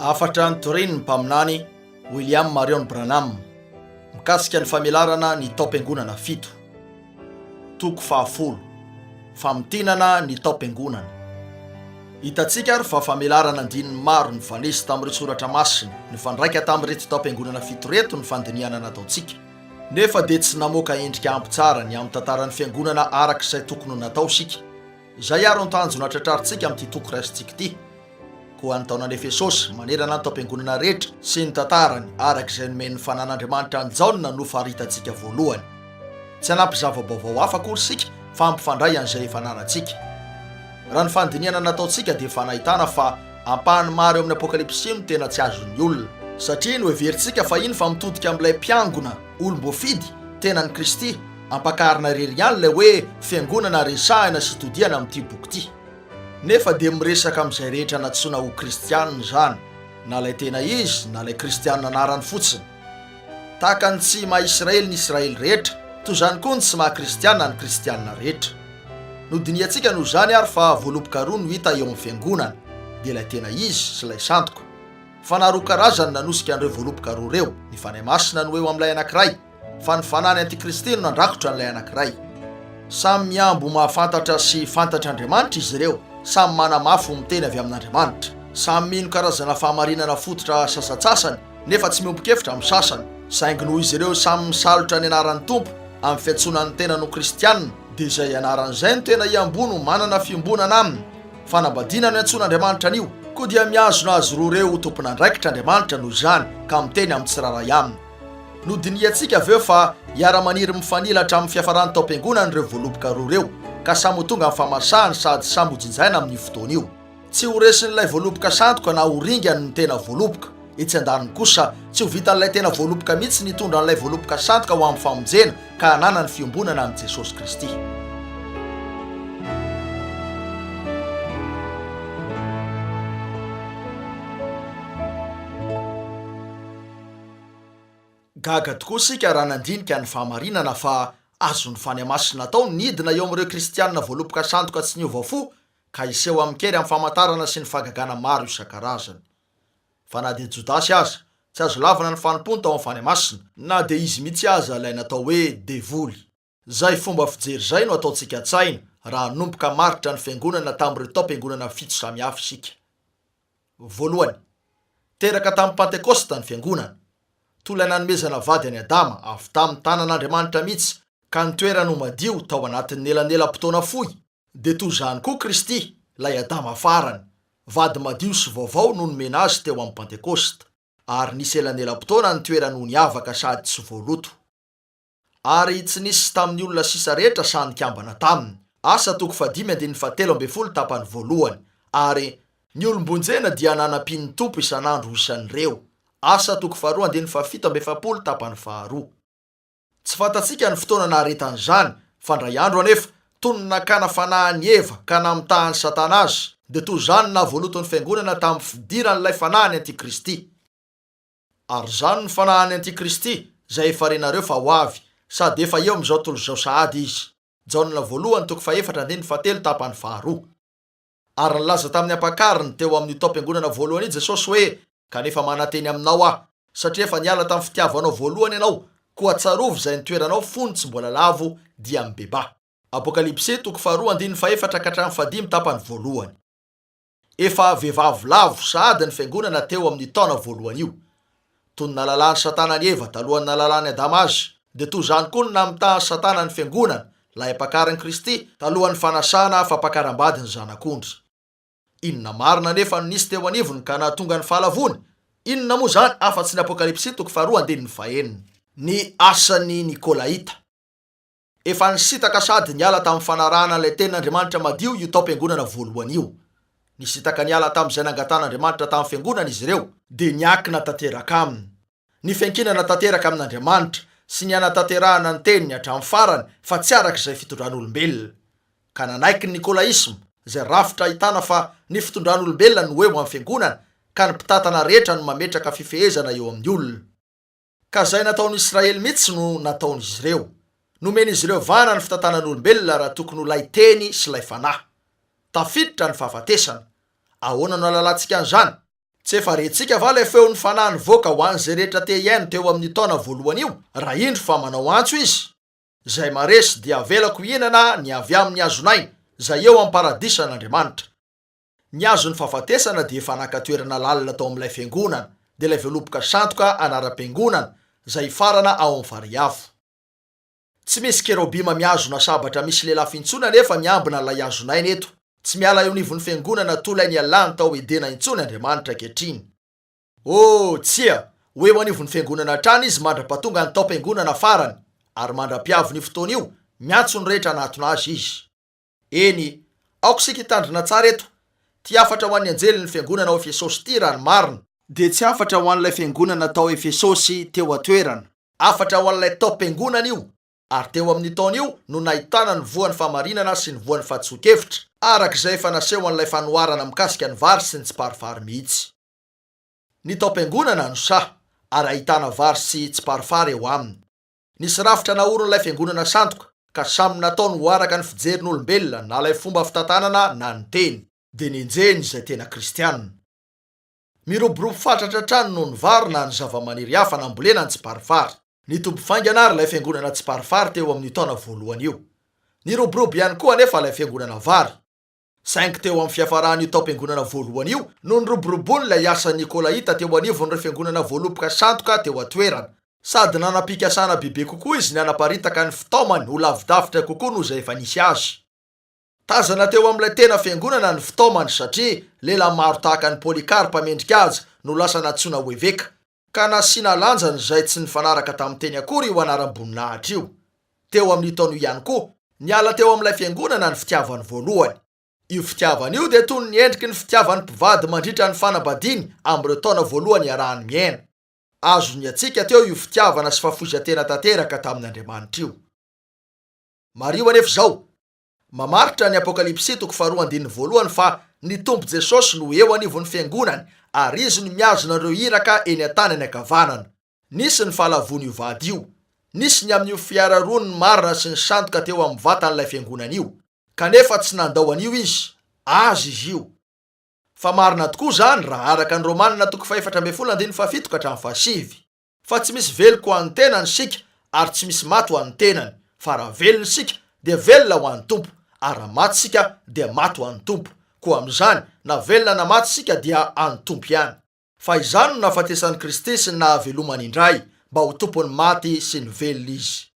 Hafatra notorian'ny Mpaminany William Marrion Branham mikasika ny famelarana ny taom-piangonana fito. Toko fahafolo, Famintinana ny taom-piangonana. Hitantsika ary fa famelarana andininy maro nivalesy tamin'ireo soratra masina nifandraika tamin'ireto taom-piangonana fito ireto ny fandinihana nataontsika, nefa dia tsy namoaka endrika ampy tsara ny amin'ny tantaran'ny fiangonana araka izay tokony ho natao isika. Izay àry no tanjona tratrarintsika amin'ity toko raisintsika ity. Koa ny taonan'i Efesosy manerana ny taom-piangonana rehetra sy ny tantarany araka izay nomen'ny fananan'Andriamanitra an'i Jaona no faritantsika voalohany. Tsy hanampy zava-baovao hafa akory isika fa hampifandray an'izay efa ananantsika. Raha ny fandinihana nataontsika dia efa nahitana fa ampahany maro eo amin'ny Apokalypsy no tena tsy azon'ny olona. Satria noheverintsika fahiny fa mitodika amin'ilay mpiangona olom-boafidy tenan'i Kristy ampakarina irery ihany ilay hoe fiangonana resahina sy todihana amin'ity boky ity. Nefa dia miresaka amin'izay rehetra nantsoina ho kristiana izany, na ilay tena izy na ilay kristiana anarany fotsiny. Tahaka ny tsy maha Israely ny Israely rehetra, toy izany koa ny tsy maha kristiana ny kristiana rehetra. Nodinihantsika noho izany ary fa voaloboka roa no hita eo amin'ny Fiangonana, dia ilay tena izy sy ilay sandoka. Fanahy roa karazany nanosika an'ireo voaloboka roa ireo, ny Fanahy Masina no eo amin'ilay anankiray, Fa ny fanahy ny antikristy no nandrakotra an'ilay anankiray. Samy mihambo ho mahafantatra sy fantatr' Andriamanitra izy ireo, samy manamafy ho miteny avy amin'Andriamanitra, samy mino karazana fahamarinana fototra sasantsasany nefa tsy miombon-kevitra amin'ny sasany, saingy noho izy ireo samy misalotra ny anaran'ny Tompo amin'ny fiantsoana ny tenany ho kristiana, dia izay ianarany izay no tena hiamboho no manana fiombonana aminy. Fanambadiana no iantsoan'Andriamanitra an'io, koa dia mihazona azy roa ireo ho tompon'andraikitra Andriamanitra noho izany ka miteny amin'ny tsirairay aminy. Nodinihantsika avy eo fa hiara-maniry mifanila hatramin'ny fiafaràn'ny taom-piangonana ireo voaloboka roa ireo, ka samy ho tonga amin'ny fahamasahany sady samy ho jinjaina amin'io fotoana io. Tsy ho resin'ilay voaloboka sandoka na ho ringany ny tena voaloboka. Etsy an-daniny kosa, tsy ho vitan'ilay tena voaloboka mihitsy ny hitondra an'ilay voaloboka sandoka ho amin'ny famonjena ka hananany fiombonana amin'i Jesosy Kristy. Gaga tokoa isika raha nandinika ny fahamarinana fa azon'ny fanahy masina atao ny hidina eo amin'ireo kristiana voaloboka sandoka tsy niova fo ka hiseho amin-kery amin'ny famantarana sy ny fahagagana maro isan-karazany. Fa na dia Jodasy aza, tsy azo lavina ny fanompony tao amin'ny fanahy masina. Na dia izy mihitsy aza ilay natao hoe devoly. Izay fomba fijery izay no ataontsika an-tsaina raha hanomboka hamaritra ny Fiangonana tamin'ireo taom-piangonana fito samihafa isika. Voalohany, teraka tamin'ny Pantekôsta ny Fiangonana. Tola nanomezana vady an'i Adama avy tamin'ny tanan'Andriamanitra mihitsy ka ny toerany ho madio tao anatin'ny elanelam-potoana fohy, dia toy izany koa Kristy, ilay Adama farany, vady madio sy vaovao no nomena azy teo amin'ny Pantekôsta, ary nisy elanelam-potoana nitoerany ho niavaka sady tsy voaloto. Ary tsy nisy tamin'ny olona sisa rehetra saha nikambana taminy. Asa toko fahadimy andininy fahatelo ambin'ny folo tapany voalohany. Ary. Ny olom-bonjena dia nanampian'ny Tompo isan'andro ho isan'ireo. Asa toko faharoa andininy fahafito amby efapolo tapany faharoa. Tsy fantatsika ny fotoana naharetan'izany, fa ndray andro anefa, toy ny nakana fanahy an'i Eva ka namitahan'i Satana azy, dia toy izany nahavoaloton'ny Fiangonana tamin'ny fidiran'ilay fanahy ny Antikristy. Ary izany no fanahin'ny antikristy, izay efa renareo fa ho avy, sady efa eo amin'izao tontolo izao sahady izy. Jaona Voalohany toko fahefatra andininy fahatelo tapany faharoa. Ary nilaza tamin'ny ampakariny teo amin'io taom-piangonana voalohany io Jesosy hoe, Kanefa manantena aminao Aho, satria efa niala tamin'ny fitiavanao voalohany ianao, koa tsarovy izay nitoeranao fony tsy mbola lavo dia mibebaha. Apokalypsy toko faharoa andininy fahefatra ka hatramin'ny fahadimy tapany voalohany. Efa vehivavy lavo sahady ny Fiangonana teo amin'ny taona voalohany io. Toy ny nahalalan'i Satana an'i Eva talohan'ny nahalalan'i Adama azy, dia toy izany koa no namitahan'i Satana ny Fiangonana, lahim-pakarin'i Kristy, talohan'ny fanasana fampakaram-bady ny Zanak'ondry. Inona marina anefa no nisy teo anivony ka nahatonga ny fahalavoany? Inona moa izany afa-tsy ny Apokalypsy toko faharoa andininy fahenina? Ny asan'ny Nikolaita. Efa nisintaka sady niala tamin'ny fanarahana ilay tenin' Andriamanitra madio io taom-piangonana voalohany io. Nisintaka niala tamin'izay nangatahan'Andriamanitra tamin'ny fiangonana izy ireo, dia niankina tanteraka aminy ny fiankinana tanteraka amin' Andriamanitra sy ny hanatanterahana ny teniny hatramin'ny farany fa tsy araka izay fitondran'olombelona, ka nanaiky ny nikolaisma izay rafitra ahitana fa ny fitondran'olombelona no eo amin'ny fiangonana ka ny mpitantana rehetra no mametraka fifehezana eo amin'ny olona. Ka izay nataon'i Israely mihitsy no nataon'izy ireo. Nomen'izy ireo vahana ny fitantanan'olombelona raha tokony ho lay teny sy lay fanahy. Tafiditra ny fahafatesana. Ahoana no halalantsika an'izany? Tsy efa rentsika va ilay feon'ny Fanahy nivoaka ho an'izay rehetra te hihaino teo amin'ny taona voalohany io, raha indro fa manao antso Izy, Izay maresy dia avelako hihinana ny avy amin'ny hazon'aina, izay eo amin'ny Paradisan'Andriamanitra. Ny azon'ny fahafatesana dia efa naka toerana lalina tao amin'ilay fiangonana, dia ilay voaloboka sandoka anaram-piangonana, izay hifarana ao amin'ny farihy avo. Tsy misy kerobima mihazona sabatra misy lelafo intsony anefa miambina an'ilay hazon'aina eto. Tsy miala eo anivon'ny fiangonana toa ilay nialany tao Edena intsony Andriamanitra ankehitriny. Oh, tsia, ho eo anivon'ny fiangonana hatrany izy mandra-pahatonga ny taom-piangonana farany, ary mandra-piavin'io fotoana io, miantso ny rehetra hanatona azy izy. Eny, aoka isika hitandrina tsara eto, ity hafatra ho an'ny anjelin'ny fiangonana ao Efesosy ity, raha ny marina, dia tsy hafatra ho an'ilay fiangonana tao Efesosy teo an-toerana, hafatra ho an'ilay taom-piangonana io, ary teo amin'io taona io no nahitana ny voan'ny fahamarinana sy ny voan'ny fahadisoan-kevitra, araka izay efa naseho an'ilay fanoharana mikasika ny vary sy ny tsiparifary mihitsy. Ny taom-piangonana no saha, ary ahitana vary sy tsiparifary eo aminy. Nisy rafitra naorin'ilay fiangonana sandoka, ka samy nataony ho araka ny fijerin'olombelona na ilay fomba fitantanana na ny teny, dia nenjehiny izay tena kristianina. Miroborobo fatratra hatrany noho ny vary na ny zavamaniry hafa nambolena ny tsiparifary. Nitombo faingana àry ilay fiangonana tsiparifary teo amin'io taona voalohany io. Niroborobo ihany koa anefa ilay fiangonana vary. Saingy teo amin'ny fiafaran'io taom-piangonana voalohany io no niroboroboany ilay asan'ny Nikolaita teo anivon'ireo fiangonana voaloboka sandoka teo an-toerana. Sady nanam-pikasana bebe kokoa izy ny hanaparitaka ny fitaomany ho lavidavitra kokoa noho izay efa nisy azy. Tazana teo amin'ilay tena fiangonana ny fitaomany, satria lehilahy maro tahaka an'i Polycarpe mendri-kaja no lasa nantsoina ho eveka. ka nasiana lanjany izay tsy nifanaraka tamin'ny teny akory io anaram-boninahitra io. Teo amin'io taona io ihany koa, niala teo amin'ilay fiangonana ny fitiavany voalohany. Io fitiavana io dia toy ny endriky ny fitiavan'ny mpivady mandritra ny fanambadiany amin'ireo taona voalohany iarahany miaina. Azo nihantsiaka teo io fitiavana sy fahafoizan-tena tanteraka tamin'Andriamanitra io. Mariho anefa izao, Mamaritra ny Apokalypsy toko faharoa andininy voalohany fa ny Tompo Jesosy no eo anivon'ny Fiangonany ary Izy no mihazona ireo iraka eny an-tanany ankavanana. Nisy ny fahalavoan'io vady io. Nisy ny amin'io fiara roa ny marina sy ny sandoka teo amin'ny vatan'ilay Fiangonana io. Kanefa tsy nandao an'io Izy. Azy izy io. Fa marina tokoa izany raha araka ny Romana toko fahefatra ambin'ny folo andininy fahafito ka hatramin'ny fahasivy. Fa tsy misy veloko ho an'ny tenany isika, ary tsy misy maty ho an'ny tenany, fa raha velona isika, dia velona ho an'ny Tompo, ary raha maty isika, dia maty ho an'ny Tompo, koa amin'izany, na velona na maty isika, dia an'ny Tompo ihany. Fa izany no nahafatesan'i Kristy sy ny nahavelomany indray, mba ho Tompon'ny maty sy ny velona Izy.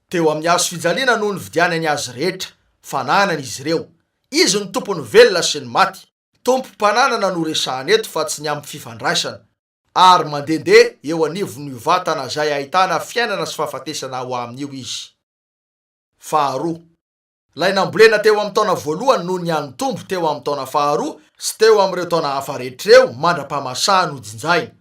Teo amin'ny hazo fijaliana no nividianany azy rehetra, fananany izy ireo. Izy no Tompon'ny velona sy ny maty. Tompo mpananana no resahana eto fa tsy ny amin'ny fifandraisana. Ary mandehandeha eo anivon'io vatana izay ahitana fiainana sy fahafatesana ao aminy io izy. Faharoa. Ilay nambolena teo amin'ny taona voalohany noho ny an'ny Tompo teo amin'ny taona faharoa sy teo amin'ireo taona hafa rehetra ireo mandra-pahamasahany hojinjahina.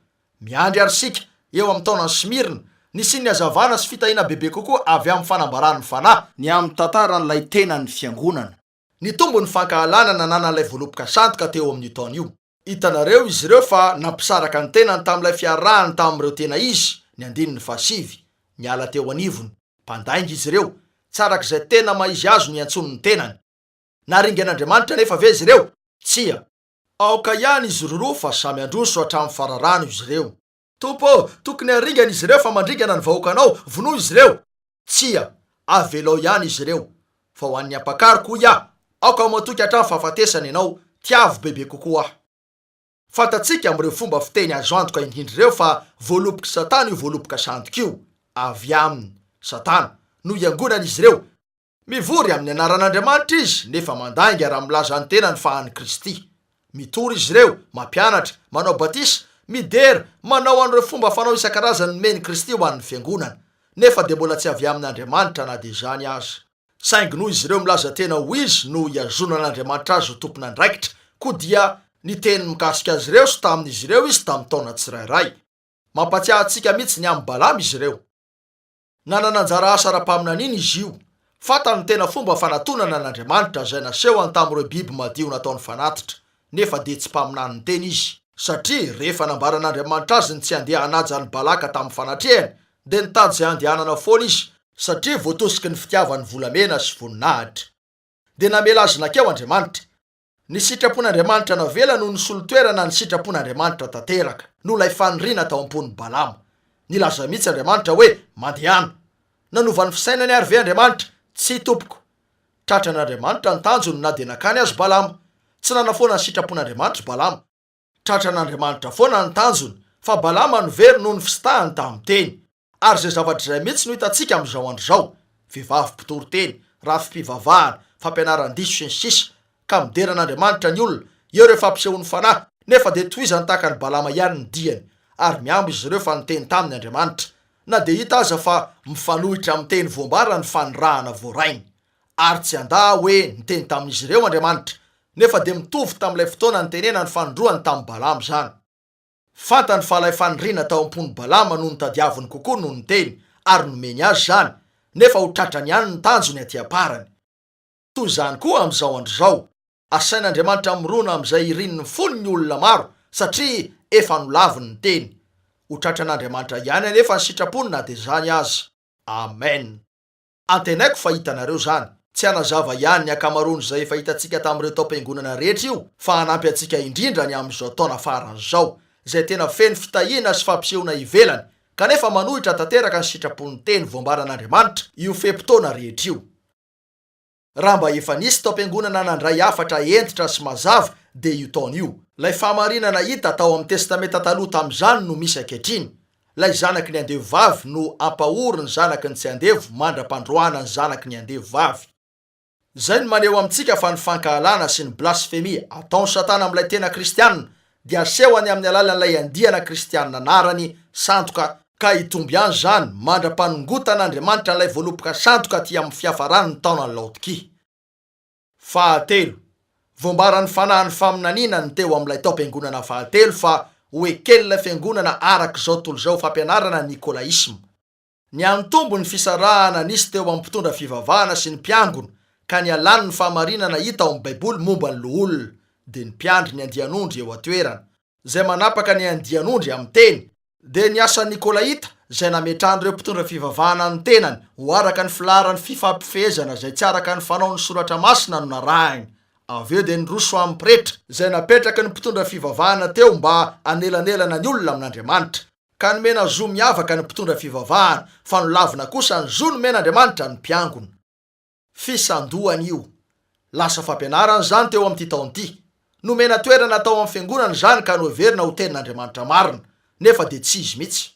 Miandry àry isika, eo amin'ny taonan'i Smirna, ny sin'ny hazavana sy fitahiana bebe kokoa avy amin'ny fanambaran'ny Fanahy, ny amin'ny tantaran'ilay tenan'ny Fiangonana. Nitombo ny fankahalana nananan'ilay voaloboka sandoka teo amin'io taona io. Hitanareo izy ireo fa nampisaraka ny tenany tamin'ilay fiarahany tamin'ireo tena izy, ny andininy fahasivy, miala teo anivony, mpandainga izy ireo, tsy araka izay tena maha-izy azy no iantsoany ny tenany. Naringan'Andriamanitra anefa ve izy ireo? Tsia. Aoka ihany izy roroa fa samy handroso hatramin'ny fararano izy ireo. Tompo ô, tokony haringana izy ireo fa mandringana ny vahoakanao, vonoy izy ireo. Tsia, avelao ihany izy ireo. Fa ho an'ny ampakariko, hoy aho, aoka matoky hatramin'ny fahafatesana ianao, tiavo bebe kokoa aho. Fantatsika amin'ireo fomba fiteny azo antoka indrindra ireo fa voalobok'i Satana io voaloboka sandoka io. Avy amin'i Satana no iangonan'izy ireo. Mivory amin'ny anaran'Andriamanitra izy nefa mandainga raha milaza ny tenany fa an'i Kristy. Mitory izy ireo, mampianatra, manao batisa, midera, manao an'ireo fomba fanao isan-karazany nomen'i Kristy ho an'ny Fiangonana, nefa dia mbola tsy avy amin'Andriamanitra na dia izany aza. Saingy noho izy ireo milaza tena ho izy no ihazonan'Andriamanitra azy ho tompon'andraikitra, koa dia niteny mikasika azy ireo sy tamin'izy ireo izy tamin'ny taona tsirairay. Mampatsiahy antsika mihitsy ny amin'i Balama izy ireo. Nanana anjara asa ara-paminaniana izy io. Fantany ny tena fomba fanatonana an'Andriamanitra izay nasehony tamin'ireo biby madio nataony fanatitra, nefa dia tsy mpaminany niteny izy. Satria rehefa nambaran'Andriamanitra azy ny tsy handeha hanaja an'i Balaka tamin'ny fanatrehany, dia nitady izay handehanana foana izy, satria voatosiky ny fitiavany volamena sy voninahitra. Dia namela azy nakeo Andriamanitra. Ny sitrapon'Andriamanitra navela no nisolo toerana ny sitrapon'Andriamanitra tanteraka, noho ilay faniriana tao am-pon'i Balama. Nilaza mihitsy Andriamanitra hoe, Mandehana. Nanova ny fisainany àry ve Andriamanitra? Tsia, tompoko. Tratran'Andriamanitra ny tanjony na dia nakany azy Balama. Tsy nanafoana ny sitrapon'Andriamanitra i Balama. Tratran'Andriamanitra foana ny tanjony, fa Balama no very noho ny fisintahany tamin'ny teny. Ary izay zavatra izay mihitsy no hitantsika amin'izao andro izao, vehivavy mpitory teny, rafi-pivavahana, fampianaran-diso sy ny sisa Ka midera an'Andriamanitra ny olona, eo ireo fampisehoan'ny fanahy, nefa dia tohizany tahaka an'i Balama ihany ny diany, ary mihambo izy ireo fa niteny taminy Andriamanitra, na dia hita aza fa mifanohitra amin'ny teny voambara ny fanirahana voarainy. Ary tsy handà aho hoe niteny tamin'izy ireo Andriamanitra, nefa dia mitovy tamin'ilay fotoana nitenenany fanindroany tamin'i Balama izany. Fantany fa ilay faniriana tao am-pon'i Balama no notadiaviny kokoa noho ny teny ary nomeny azy izany, nefa ho tratrany ihany ny tanjony aty am-parany. Toy izany koa amin'izao andro izao, asain'Andriamanitra mirona amin'izay irin'ny fony ny olona maro satria efa nolaviny ny teny. Ho tratran'Andriamanitra ihany anefa ny sitrapony na dia izany aza. Amen. Antenaiko fa hitanareo izany. Tsy hanazava ihany ny ankamaroan'izay efa hitantsika tamin'ireo taom-piangonana rehetra io fa hanampy antsika indrindra ny amin'izao taona farany izao izay tena feno fitahiana sy fampisehoana ivelany kanefa manohitra tanteraka ny sitrapon'ny teny voambaran'Andriamanitra io fe-potoana rehetra io. Raha mba efa nisy taom-piangonana nandray hafatra hentitra sy mazava dia io taona io. Ilay fahamarinana hita tao amin'ny Testamenta Taloha tamin'izany no misy ankehitriny. Ilay zanaky ny andevo vavy no hampahory ny zanaky ny tsy andevo mandra-pandroahana ny zanaky ny andevo vavy. Izay no maneho amintsika fa ny fankahalana sy ny blasfemia ataon'i Satana amin'ilay tena kristiana dia asehony amin'ny alalan'ilay andiana kristianina anarany sandoka ka hitombo ihany izany mandra-panongotan'Andriamanitra an'ilay voaloboka sandoka aty amin'ny fiafaran'ny taonan'i Laodikia. Fahatelo, voambaran'ny fanahin'ny faminaniana ny teo amin'ilay taom-piangonana fahatelo fa ho eken'ilay fiangonana araka izao tontolo izao fampianarana ny nikolaisma. Nihanitombo ny fisarahana nisy teo amin'ny mpitondra fivavahana sy ny mpiangona, ka nialany ny fahamarinana hita ao amin'ny Baiboly momba ny loholona, dia ny mpiandry ny andian'ondry eo an-toerana, izay manapaka ny andian'ondry amin'ny teny, dia ny asan'ny Nikolaita, izay nametrahan'ireo mpitondra fivavahana ny tenany ho araka ny filaharan'ny fifampifehezana izay tsy araka ny fanaon'ny Soratra Masina no narahiny, avy eo dia ny roso amin'ny pretra, izay napetraky ny mpitondra fivavahana teo mba hanelanelana ny olona amin'Andriamanitra, Ka nomena zo miavaka ny mpitondra fivavahana, fa nolavina kosa ny zo nomen'Andriamanitra ny mpiangona. Fisandohana io. Lasa fampianarana izany teo amin'ity taona ity. Nomena toerana tao amin'ny fiangonana izany ka noheverina ho Tenin'Andriamanitra marina, nefa dia tsy izy mihitsy.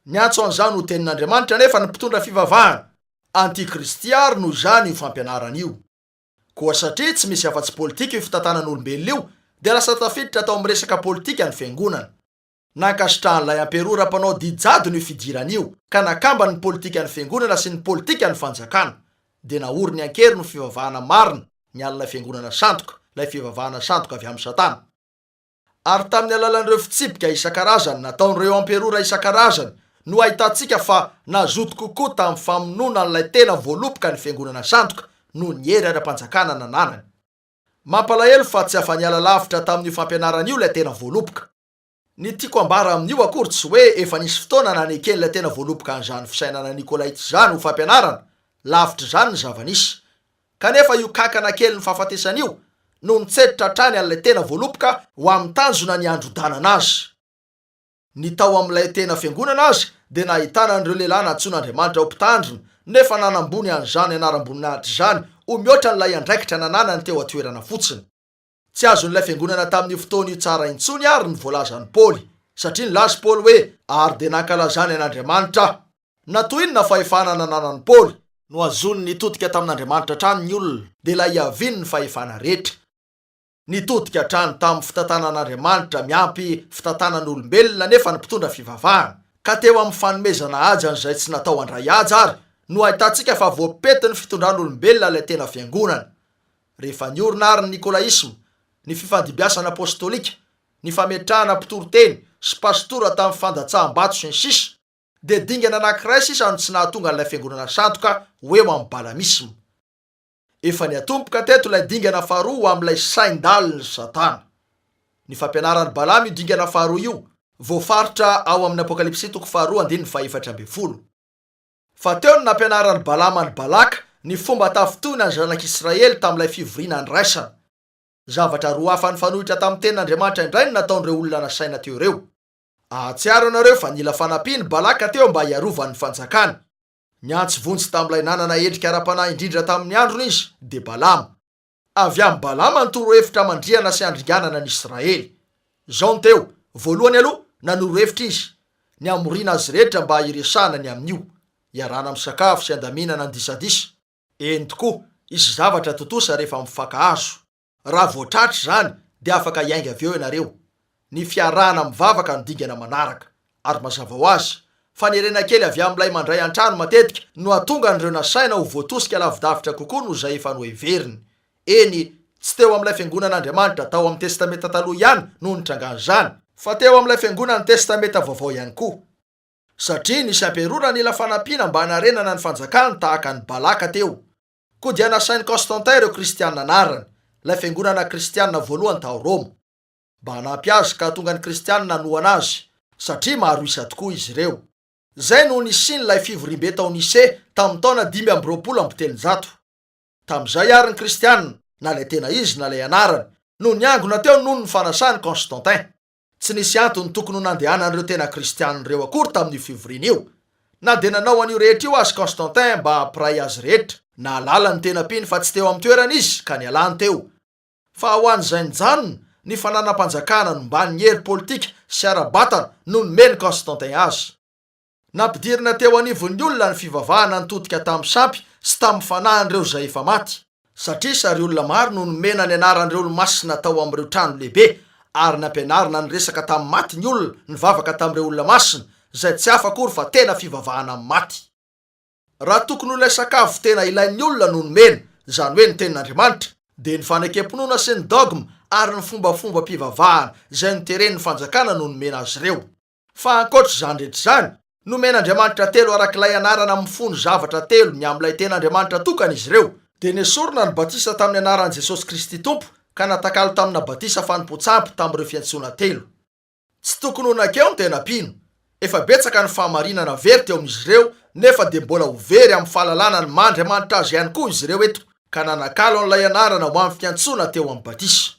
Niantso an'izany ho Tenin'Andriamanitra anefa ny mpitondra fivavahana. Antikristy àry noho izany io fampianarana io. Koa satria tsy misy afa-tsy politika io fitantanan'olombelona io, dia lasa tafiditra tao amin'ny resaka politika ny fiangonana. Nankasitrahan'ilay Amperora mpanao didy jadona io fidirana io, ka nakambany ny politikan'ny Fiangonana sy ny politikan'ny fanjakana. Dia naoriny an-keriny ny fivavahana marina, ny alin'ilay Fiangonana sandoka, ilay fivavahana sandoka avy amin'i Satana. Ary tamin'ny alalan'ireo fitsipika isan-karazany nataon'ireo Amperora isan-karazany no ahitantsika fa nazoto kokoa tamin'ny famonoana an'ilay tena voaloboka ny Fiangonana sandoka noho ny hery ara-panjakana nananany. Mampalahelo fa tsy afa-niala lavitra tamin'io fampianarana io ilay tena voaloboka. Ny tiako ambara amin'io akory tsy hoe efa nisy fotoana naneken'ilay tena voaloboka an'izany fisainana Nikolaita izany ho fampianarana, lavitr'izany ny zava-nisy. Kanefa io kankana kelin'ny fahafatesana io no nitseditra hatrany an'ilay tena voaloboka ho amin'ny tanjona niandrodanana azy. Ny tao amin'ilay tena fiangonana aza dia nahitana an'ireo lehilahy nantsoin'Andriamanitra ho mpitandrina, nefa nanambony an'izany anaram-boninahitra izany ho mihoatra an'ilay andraikitra nananany teo an-toerana fotsiny. Tsy azon'ilay fiangonana tamin'io fotoana io tsara intsony àry ny voalazan'i Paoly, satria nilaza i Paoly hoe, Ary dia nankalazany an'Andriamanitra aho. Na toy inona fahefana nananan'i Paoly! Nohazony nitodika tamin'Andriamanitra hatrany ny olona, dia ilay hiaviany ny fahefana rehetra. Nitodika hatrany tamin'ny fitantanan'Andriamanitra miampy fitantanan'olombelona anefa ny mpitondra fivavahana, ka teo amin'ny fanomezana haja an'izay tsy natao handray haja àry no ahitantsika fa voapety ny fitondran'olombelona ilay tena fiangonana. Rehefa niorina àry ny nikolaisma, ny fifandimbiasana apôstôlika, ny fametrahana mpitory teny sy pasitora tamin'ny fandatsaham-bato sy ny sisa, dia dingana anankiray sisa no tsy nahatonga an'ilay fiangonana sandoka ho eo amin'ny balamisma. Efa niatomboka teto ilay dingana faharoa ho amin'ilay sain-dalin'i Satana. Ny fampianaran'i Balama io dingana faharoa io, voafaritra ao amin'ny Apokalypsy toko faharoa andininy fahefatra ambin'ny folo. Fa teo no nampianaran'i Balama an'i Balaka ny fomba tafintohina ny zanak'Israely tamin'ilay fivoriana andraisana. Zavatra roa hafa nifanohitra tamin'ny tenin'Andriamanitra indray no nataon'ireo olona nasaina teo ireo. Ahatsiaro anareo fa nila fanampian'i Balaka teo mba hiarovany ny fanjakany. Niantso vonjy tamin'ilay nanana endrika ara-panahy indrindra tamin'ny androny izy, dia Balama. Avy amin'i Balama ny torohevitra hamandrihana sy handringanana ny Israely. Izao no teo, Voalohany aloha, nanoro hevitra izy ny hamoriana azy rehetra mba hiresahana ny amin'io, hiarahana misakafo sy handaminana ny disadisa. Eny tokoa, hisy zavatra tontosa rehefa mifankahazo. Raha voatratra izany, dia afaka hiainga avy eo ianareo. ny fiarahana mivavaka ny dingana manaraka. Ary mazava ho azy, fanerena kely avy amin'ilay mandray an-trano matetika no hahatonga an'ireo nasaina ho voatosika lavidavitra kokoa noho izay efa noheveriny. Eny, tsy teo amin'ilay fiangonan'Andriamanitra tao amin'ny Testamenta Taloha ihany no nitrangan'izany, fa teo amin'ilay fiangonan'ny Testamenta Vaovao ihany koa, satria nisy amperora nila fanampiana mba hanarenana ny fanjakany tahaka an'i Balaka teo, koa dia nasain'i Constantin ireo Kristiana anarany, ilay fiangonana kristiana voalohany tao Roma. mba hanampy azy ka hahatonga ny Kristianina hanohana azy, satria maro isa tokoa izy ireo. Izay no nisian'ilay fivoriambe tao Nicée tamin'ny taona dimy amby roapolo amby telonjato. Tamin'izay àry ny Kristianina, na ilay tena izy na ilay anarany, no niangona teo noho ny fanasan'i Constantin. Tsy nisy antony tokony ho nandehanan'ireo tena Kristianina ireo akory tamin'io fivoriana io. Na dia nanao an'io rehetra io aza Constantin mba hampiray azy rehetra. Nahalala ny tena mpino fa tsy teo amin'ny toerany izy, ka nialany teo. Fa ho an'izay nijanona, ny fananam-panjakana nombany ny hery politika sy ara-batana no nomen'i Constantin azy. Nampidirina teo anivon'ny olona ny fivavahana nitodika tamin'ny sampy sy tamin'ny fanahin'ireo izay efa maty, satria sary olona maro no nomena ny anaran'ireo olo-masina tao amin'ireo trano lehibe, ary nampianarina niresaka tamin'ny maty ny olona, nivavaka tamin'ireo olona masina, izay tsy hafa akory fa tena fivavahana amin'ny maty. Raha tokony ho ilay sakafo tena ilain'ny olona no nomena, izany hoe ny Tenin'Andriamanitra, dia ny fanekempinoana sy ny dogma ary ny fombafombam-pivavahana izay noteren'ny fanjakana no nomena azy ireo. Fa ankoatra izany rehetra izany, nomen'Andriamanitra telo arak'ilay anarana mifono zavatra telo ny amin'ilay tena Andriamanitra tokana izy ireo, dia nesorina ny batisa tamin'ny anaran'i Jesosy Kristy Tompo ka natakalo tamina batisa fanompoan-tsampy tamin'ireo fiantsoana telo. Tsy tokony ho nakeo ny tena mpino. Efa betsaka ny fahamarinana very teo amin'izy ireo nefa dia mbola ho very amin'ny fahalalana ny maha Andriamanitra Azy ihany koa izy ireo eto ka nanakalo an'ilay anarana ho amin'ny fiantsoana teo amin'ny batisa.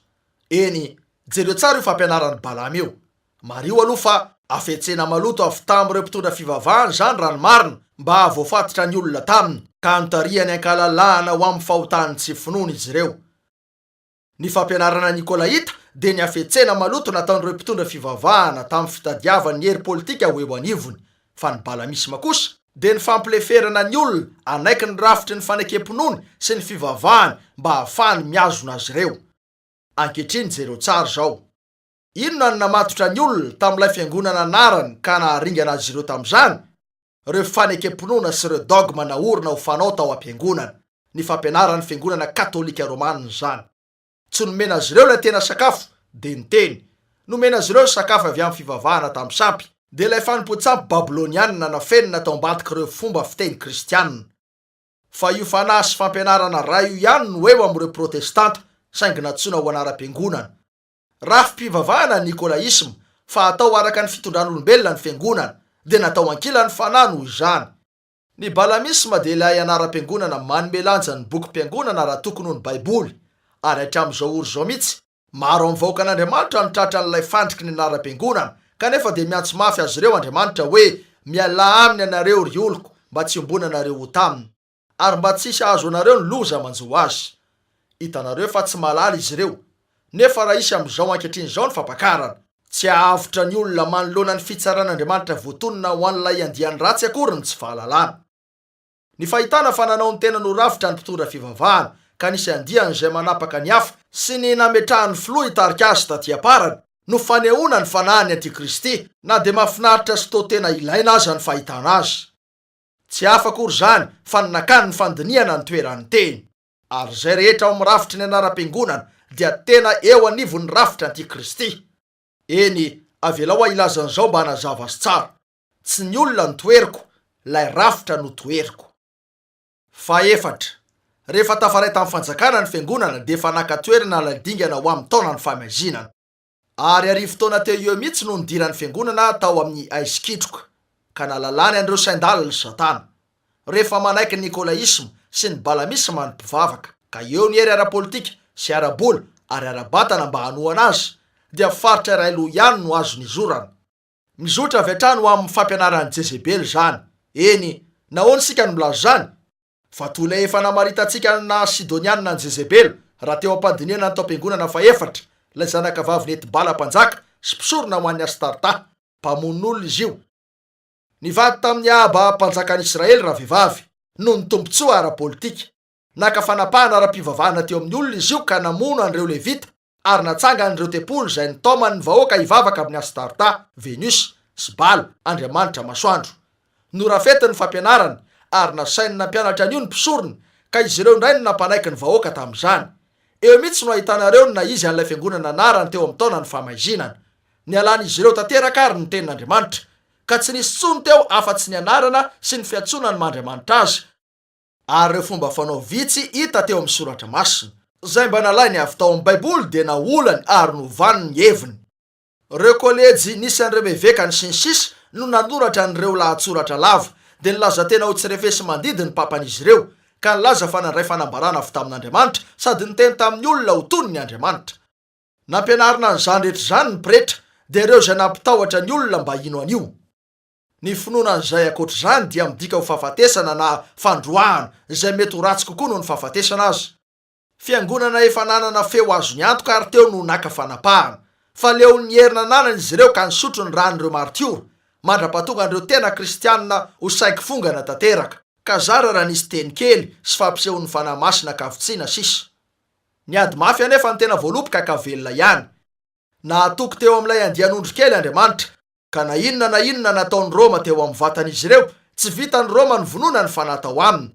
Eny, jereo tsara io fampianaran'i Balama io. Mariho aloha fa hafetsena maloto avy tamin'ireo mpitondra fivavahana izany raha ny marina mba hahavoafatitra ny olona taminy ka hanontariany an-kalalahana ho amin'ny fahotan'ny tsy finoany izy ireo. Ny fampianarana Nikolaita dia ny hafetsena maloto nataon'ireo mpitondra fivavahana tamin'ny fitadiavany ny hery politika ho eo anivony, fa ny balamisma kosa dia ny fampileferana ny olona hanaiky ny rafitry ny fanekem-pinoany sy ny fivavahany mba hahafahany mihazona azy ireo. Ankehitriny jereo tsara izao. Inona no namatotra ny olona tamin'ilay fiangonana anarany ka naharingana azy ireo tamin'izany? Ireo fanekem-pinoana sy ireo dogma naorina ho fanao tao am-piangonana. Ny fampianaran'ny Fiangonana Katolika Romanina izany. Tsy nomena azy ireo ilay tena sakafo, dia ny Teny. Nomena azy ireo ny sakafo avy amin'ny fivavahana tamin'ny sampy. Dia ilay fanompoan-tsampy babylonianina nafenina tao ambadik'ireo fomba fiteny kristiana. Fa io fanahy sy fampianarana iray io ihany no eo amin'ireo Protestanta, saingy nantsoina ho anaram-piangonana. Rafi-pivavahana ny Nikolaisma, fa atao araka ny fitondran'olombelona ny fiangonana, dia natao ankilany fanahy noho izany. Ny Balamisma dia ilay anaram-piangonana manome lanja ny bokim-piangonana raha tokony ho ny Baiboly, ary hatramin'izao ory izao mihitsy, maro amin'ny vahoakan'Andriamanitra no tratran'ilay fandriky ny anaram-piangonana, kanefa dia miantso mafy azy ireo Andriamanitra hoe, Mialà aminy ianareo, ry oloko, mba tsy iombonanareo ho taminy. Ary mba tsisy ahazo anareo ny loza manjo azy. Hitanareo fa tsy mahalala izy ireo. Nefa raha hisy amin'izao ankehitriny izao ny fampakarana. Tsy hahavotra ny olona manoloana ny fitsaran'Andriamanitra voatonona ho an'ilay andiany ratsy akory ny tsy fahalalana. Ny fahitana fa nanao ny tenany ho rafitra ny mpitondra fivavahana, ka nisy andiany izay manapaka ny hafa, sy ny nametrahan'ny filoha hitarika azy taty am-parany, no fanehoana ny fanahin'ny antikristy, na dia mahafinaritra sy toa tena ilaina aza ny fahitana azy. Tsy hafa akory izany fa ny nakany ny fandinihana ny toeran'ny teny. Ary izay rehetra ao amin'ny rafitry ny anaram-piangonana dia tena eo anivon'ny rafitry anti-kristy. Eny, avelao aho hilaza an'izao mba hanazava azy tsara. Tsy ny olona no toheriko, ilay rafitra no toheriko. Fahefatra, rehefa tafaray tamin'ny fanjakana ny fiangonana dia efa naka toerana ilay dingana ho amin'ny taonan'ny famaizinana. Ary arivo taona teo eo mihitsy no nidiran'ny fiangonana tao amin'ny aizikitroka, ka nalalany an'ireo sain-dalina i Satana, rehefa manaiky ny nikolaisma sy ny balamisma ny mpivavaka, ka eo ny hery ara-politika sy ara-bola ary ara-batana mba hanohana azy, dia faritra iray loha ihany no azo nizorana. Mizotra avy hatrany ho amin'ny fampianaran'i Jezebela izany. Eny, nahoana isika no milaza izany? Fa toy ilay efa namaritantsika ny naha Sidoniana an'i Jezebela, raha teo am-pandinihana ny taom-piangonana fahefatra, ilay zanakavavin'i Etbala mpanjaka sy mpisorona ho an'i Astarta, mpamononolona izy io. Nivady tamin'i Ahaba mpanjakan'ny Israely ravehivavy, noho ny tombontsoa ara-politika. Naka fanapahana ara-pivavahana teo amin'ny olona izy io ka namono an'ireo Levita ary natsangan'ireo tempoly izay nitaoman'ny vahoaka hivavaka amin'ny Astarta, Venus, sy Bala, andriamanitra masoandro. Norafetiny ny fampianarany ary nasainy nampianatra an'io ny mpisorona, ka izy ireo indray no nampanaiky ny vahoaka tamin'izany. Eo mihitsy no ahitanareo ny naha izy an'ilay fiangonana anarany teo amin'ny taonan'ny Famaizinana. Nialan'izy ireo tanteraka àry ny tenin'Andriamanitra, ka tsy nisy intsony teo afa-tsy ny anarana sy ny fiantsoana ny maha andriamanitra azy. ary ireo fomba fanao vitsy hita teo amin'ny Soratra Masina, izay mba nalainy avy tao amin'ny Baiboly dia naolany ary novany ny heviny. Ireo kôlejy nisy an'ireo evekany sy ny sisa no nanoratra an'ireo lahatsoratra lava, dia nilaza tena ho tsy refesi-mandidy ny papan'izy ireo, ka nilaza fa nandray fanambarana avy tamin'Andriamanitra sady niteny tamin'ny olona ho tony ny Andriamanitra. Nampianarina an'izany rehetra izany ny pretra, dia ireo izay nampitahotra ny olona mba hino an'io. Ny finoana an'izay ankoatra izany dia midika ho fahafatesana na fandroahana, izay mety ho ratsy kokoa noho ny fahafatesana aza. Fiangonana efa nanana feo azony antoka ary teo no naka fanapahana. Fa leon'ny hery nananany izy ireo ka nisotro ny ran'ireo maritiora, mandra-pahatonga an'ireo tena kristianina ho saiky fongana tanteraka. Ka zara raha nisy teny kely sy fampisehon'ny Fanahy Masina ka vitsiana sisa. Ny ady mafy anefa no tena voaloboka ka velona ihany. Nahatoky teo amin'ilay andian'ondry kely Andriamanitra, Ka na inona na inona nataon'i Roma teo amin'ny vatan'izy ireo, tsy vitan'i Roma ny vononany fa natao aminy,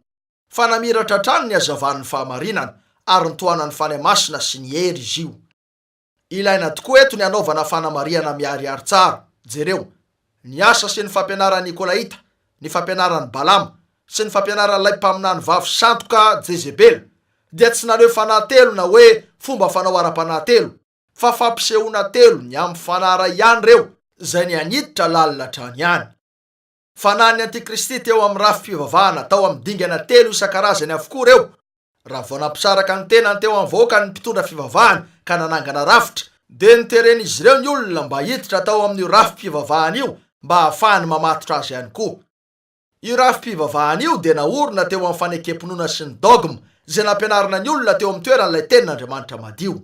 fa namiratra hatrany ny hazavan'ny fahamarinana, ary nitohanan'ny Fanahy Masina sy ny hery izy io. Ilaina tokoa eto ny hanaovana fanamarihana miharihary tsara, jereo, ny asa sy ny fampianaran'ny Nikolaita, ny fampianaran'i Balama, sy ny fampianaran'ilay mpaminany vavy sandoka Jezebela, dia tsy naneho fanahy telo na hoe fomba fanao ara-panahy telo, fa fampisehoana telo ny amin'ny fanara ihany ireo izay ny an'iditra lalina hatrany any. Fanahin'ny antikristy teo amin'ny rafi-pivavahana tao amin'ny dingana telo isan-karazany avokoa ireo, raha vao nampisaraka ny tenany teo amin'ny vahoaka ny mpitondra fivavahana ka nanangana rafitra, dia noteren'izy ireo ny olona mba hiditra tao amin'io rafi-pivavahana io mba hahafahany mamatotra azy ihany koa. Io rafi-pivavahana io dia naorina teo amin'ny fanekem-pinoana sy ny dogma izay nampianarina ny olona teo amin'ny toeran'ilay Tenin'Andriamanitra madio.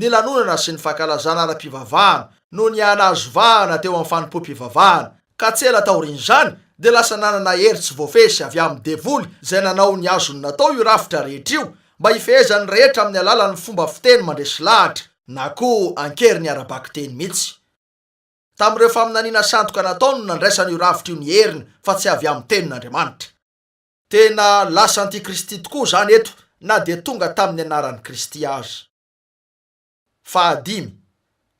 ny lanonana sy ny fankalazana ara-pivavahana no nihanazo vahana teo amin'ny fanompoam-pivavahana, ka tsy ela taorian'izany dia lasa nanana hery tsy voafesy avy amin'ny devoly izay nanao ny azony natao io rafitra rehetra io mba hifehezan'ny rehetra amin'ny alalan'ny fomba fiteny mandresy lahatra na koa an-keriny ara-bakiteny mihitsy. Tamin'ireo faminaniana sandoka natao no nandraisana io rafitra io ny heriny fa tsy avy amin'ny tenin'Andriamanitra. Tena lasa antikristy tokoa izany eto na dia tonga tamin'ny anaran'i Kristy aza. Fahadimy,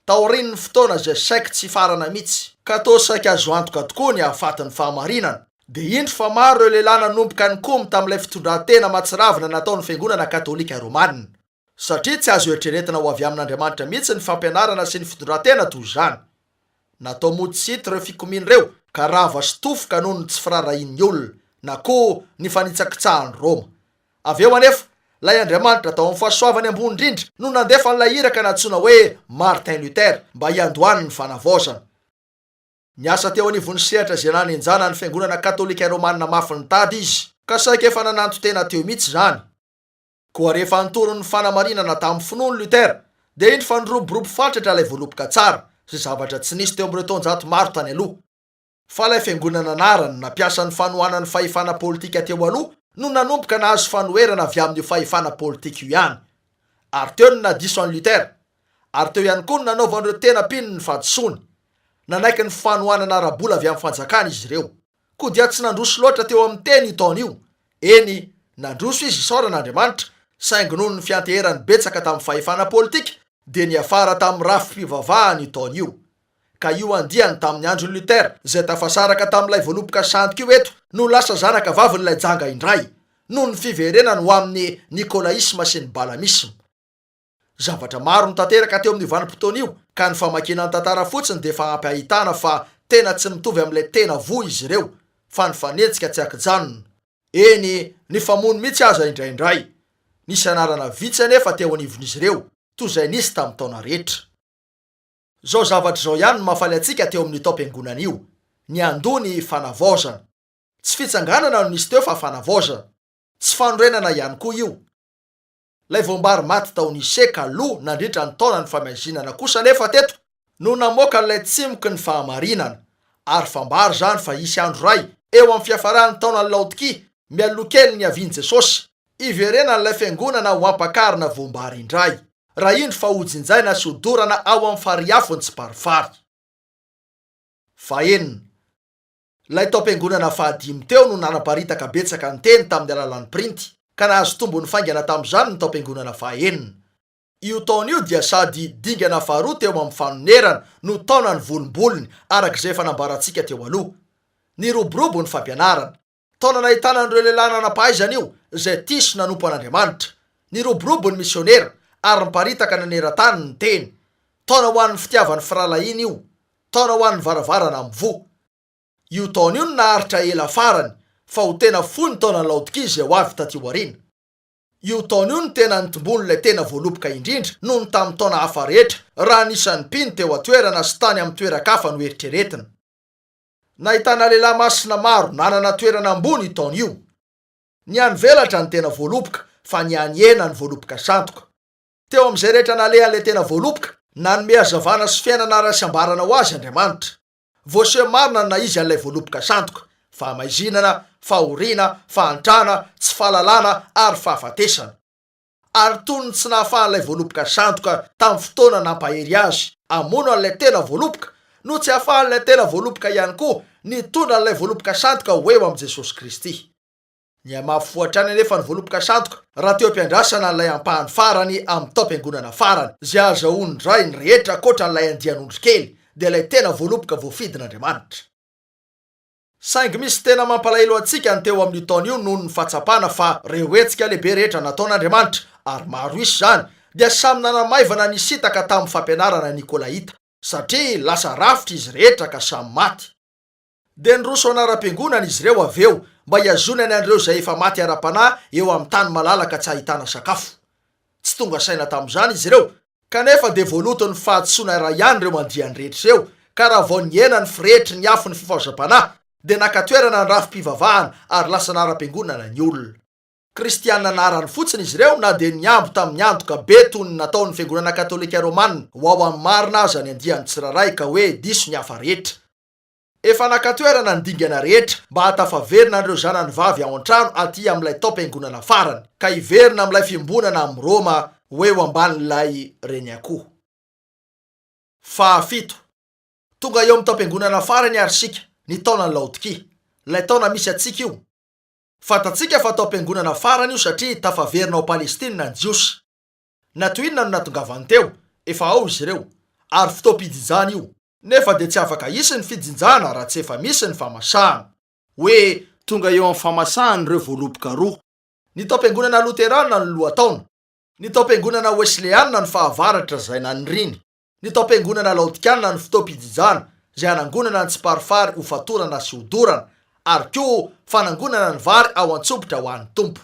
taorian'ny fotoana izay saiky tsy hifarana mihitsy, ka toa saiky azo antoka tokoa ny hahafaty ny fahamarinana, dia indro fa maro ireo lehilahy nanomboka nikomy tamin'ilay fitondran-tena mahatsiravina nataon'ny Fiangonana Katolika Romanina. Satria tsy azo eritreretina ho avy amin'Andriamanitra mihitsy ny fampianarana sy ny fitondran-tena toy izany. Natao mody tsy hita ireo fikomiana ireo, ka rava sy tofoka noho ny tsy firaharahian'ny olona, na koa ny fanitsakitsahan'i Roma. Avy eo anefa, ilay Andriamanitra tao amin'ny fahasoavany ambony indrindra no nandefa an'ilay iraka nantsoina hoe Martin Luther mba hiandohany ny Fanavaozana. Niasa teo anivon'ny sehatra izay nanenjana ny Fiangonana Katolika Romanina mafy nitady izy, ka saika efa nananton-tena teo mihitsy izany. Koa rehefa nitory ny fanamarinana tamin'ny finoany Luther, dia indro fa niroborobo fatratra ilay voaloboka tsara sy zavatra tsy nisy teo amin'ireo taonjato maro tany aloha. Fa ilay fiangonana anarany nampiasa ny fanohanan'ny fahefana politika teo aloha no nanomboka nahazo fanoherana avy amin'io fahefana politika io ihany. Ary teo no nadiso an'i Luther. Ary teo ihany koa no nanaovan'ireo tena mpino ny fahadisoany. Nanaiky ny fanohanana ara-bola avy amin'ny fanjakana izy ireo. Koa dia tsy nandroso loatra teo amin'ny teny io taona io. Eny, nandroso izy isaorana Andriamanitra, saingy noho ny fianteherany betsaka tamin'ny fahefana politika, dia niafara tamin'ny rafi-pivavahana io taona io. Ka io andiany tamin'ny andron'i Luther, izay tafasaraka tamin'ilay voaloboka sandoka io eto, no lasa zanaka vavin'ilay janga indray, noho ny fiverenany ho amin'ny nikôlaisma sy ny balamisma. Zavatra maro no tanteraka teo amin'io vanim-potoana io ka ny famakiana ny tantara fotsiny dia efa ampy ahitana fa tena tsy mitovy amin'ilay tena voa izy ireo fa nifanenjika tsy an-kijanona, eny nifamono mihitsy aza indraindray. Nisy anarana vitsy anefa teo anivon'izy ireo toy izay nisy tamin'ny taona rehetra. Izao zavatra izao ihany no mahafaly antsika teo amin'io taom-piangonana io, niandoha ny fanavaozana. Tsy fitsanganana no nisy teo fa fanavaozana. Tsy fanorenana ihany koa io. Ilay voambary maty tao Nice kaloha nandritra ny taona nifamaizinana kosa anefa teto no namoaka an'ilay tsimoky ny fahamarinana. Ary fambara izany fa hisy andro iray, eo amin'ny fiafaran'ny taonan'i Laodikia, mialoha kely ny niavian'i Jesosy, hiverenan'ilay fiangonana ho ampakarina voambary indray, raha indro fa hojinjaina sy hodorana ao amin'ny fariafon'i Tsiparifary. Fahenina. Ilay tao am-piangonana fahadimy teo no nanaparitaka betsaka ny teny tamin'ny alalan'ny printy, ka nahazo tombony faingana tamin'izany ny tao am-piangonana fahaenina. Io taona io dia sady dingana faharoa teo amin'ny fanonerana no taona nivolombolony, araka izay efa nambarantsika teo aloha. Niroborobo ny fampianarana. Taona nahitana an'ireo lehilahy nanam-pahaizana io, izay tia sy nanompo an'Andriamanitra. Niroborobo ny misionera, ary niparitaka naneran-tany ny teny. Taona ho an'ny fitiavan'ny firahalahiana io. Taona ho an'ny varavarana mivoha. Io taona io no naharitra ela farany fa ho tena fohy ny taonan'i Laodikia izay ho avy taty aoriana. Io taona io no tena nitomboan'ilay tena voaloboka indrindra noho ny tamin'ny taona hafa rehetra raha ny isan'ny mpino teo an-toerana sy tany amin'ny toeran-kafa no eritreretina. Nahitana lehilahy masina maro nanana toerana ambony io taona io. Ny any velatra ny tena voaloboka fa ny any hena ny voaloboka sandoka. Teo amin'izay rehetra nalehan'ilay tena voaloboka, nanome hazavana sy fiainana ara-tsiambarana ho azy Andriamanitra. Voaseho marina ny naha-izy an'ilay voaloboka sandoka, fahamaizinana, fahoriana, fahantrana, tsy fahalalana, ary fahafatesana. Ary toy ny tsy nahafahan'ilay voaloboka sandoka tamin'ny fotoana nampahery azy hamono an'ilay tena voaloboka, no tsy ahafahan'ilay tena voaloboka ihany koa nitondra an'ilay voaloboka sandoka ho eo amin'i Jesosy Kristy. Nihamafy hatrany anefa ny voaloboka sandoka raha teo am-piandrasana an'ilay ampahany farany amin'ny taom-piangonana farany. Izay hahazahoan'ny ray ny rehetra ankoatra an'ilay andian'ondry kely dia ilay tena voaloboka voafidin'Andriamanitra. Saingy misy tena mampalahelo antsika ny teo amin'io taona io noho ny fahatsapana fa ireo hetsika lehibe rehetra nataon'Andriamanitra, ary maro isa izany, dia samy nanamaivana nisintaka tamin'ny fampianarana nikolaita, satria lasa rafitra izy rehetra ka samy maty. Dia niroso anaram-piangonana izy ireo avy eo mba hihazonany an'ireo izay efa maty ara-panahy eo amin'ny tany malalaka tsy ahitana sakafo. Tsy tonga saina tamin'izany izy ireo, kanefa dia voaloton'ny fahadisoana iray ihany ireo andiany rehetra ireo, ka raha vao nihena ny firehetry ny afon'ny fifazam-panahy, dia naka toerana ny rafi-pivavahana ary lasa anaram-piangonana ny olona. Kristiana anarany fotsiny izy ireo na dia nihambo tamin'ny antoka be toy ny nataon'ny Fiangonana Katolika Romana ho ao amin'ny marina aza ny andiany tsirairay ka hoe diso ny hafa rehetra. Efa naka toerana ny dingana rehetra mba hahatafaverina an'ireo zanany vavy ao an-trano aty amin'ilay taom-piangonana farany, ka hiverina amin'ilay fiombonana amin'i Roma ho eo ambanin'ilay reniakoho. Fahafito. Tonga eo amin'ny taom-piangonana farany àry isika, ny taonan'i Laodikia. Ilay taona misy antsika io. Fantatsika fa taom-piangonana farany io satria tafaverina ao Palestina ny Jiosy. Na toy inona no nahatongavany teo, efa ao izy ireo. Ary fotoam-pijinjana io. nefa dia tsy afaka hisy ny fijinjana raha tsy efa misy ny famasahana, hoe tonga eo amin'ny famasahana ireo voaloboka roa. Ny taom-piangonana loterana no lohataona, ny taom-piangonana wesleana no fahavaratra izay naniriany, ny taom-piangonana laodikiana no fotoam-pijijana izay hanangonana ny tsiparifary ho fatorana sy ho dorana, ary koa fanangonana ny vary ao an-tsobitra ho an'ny Tompo.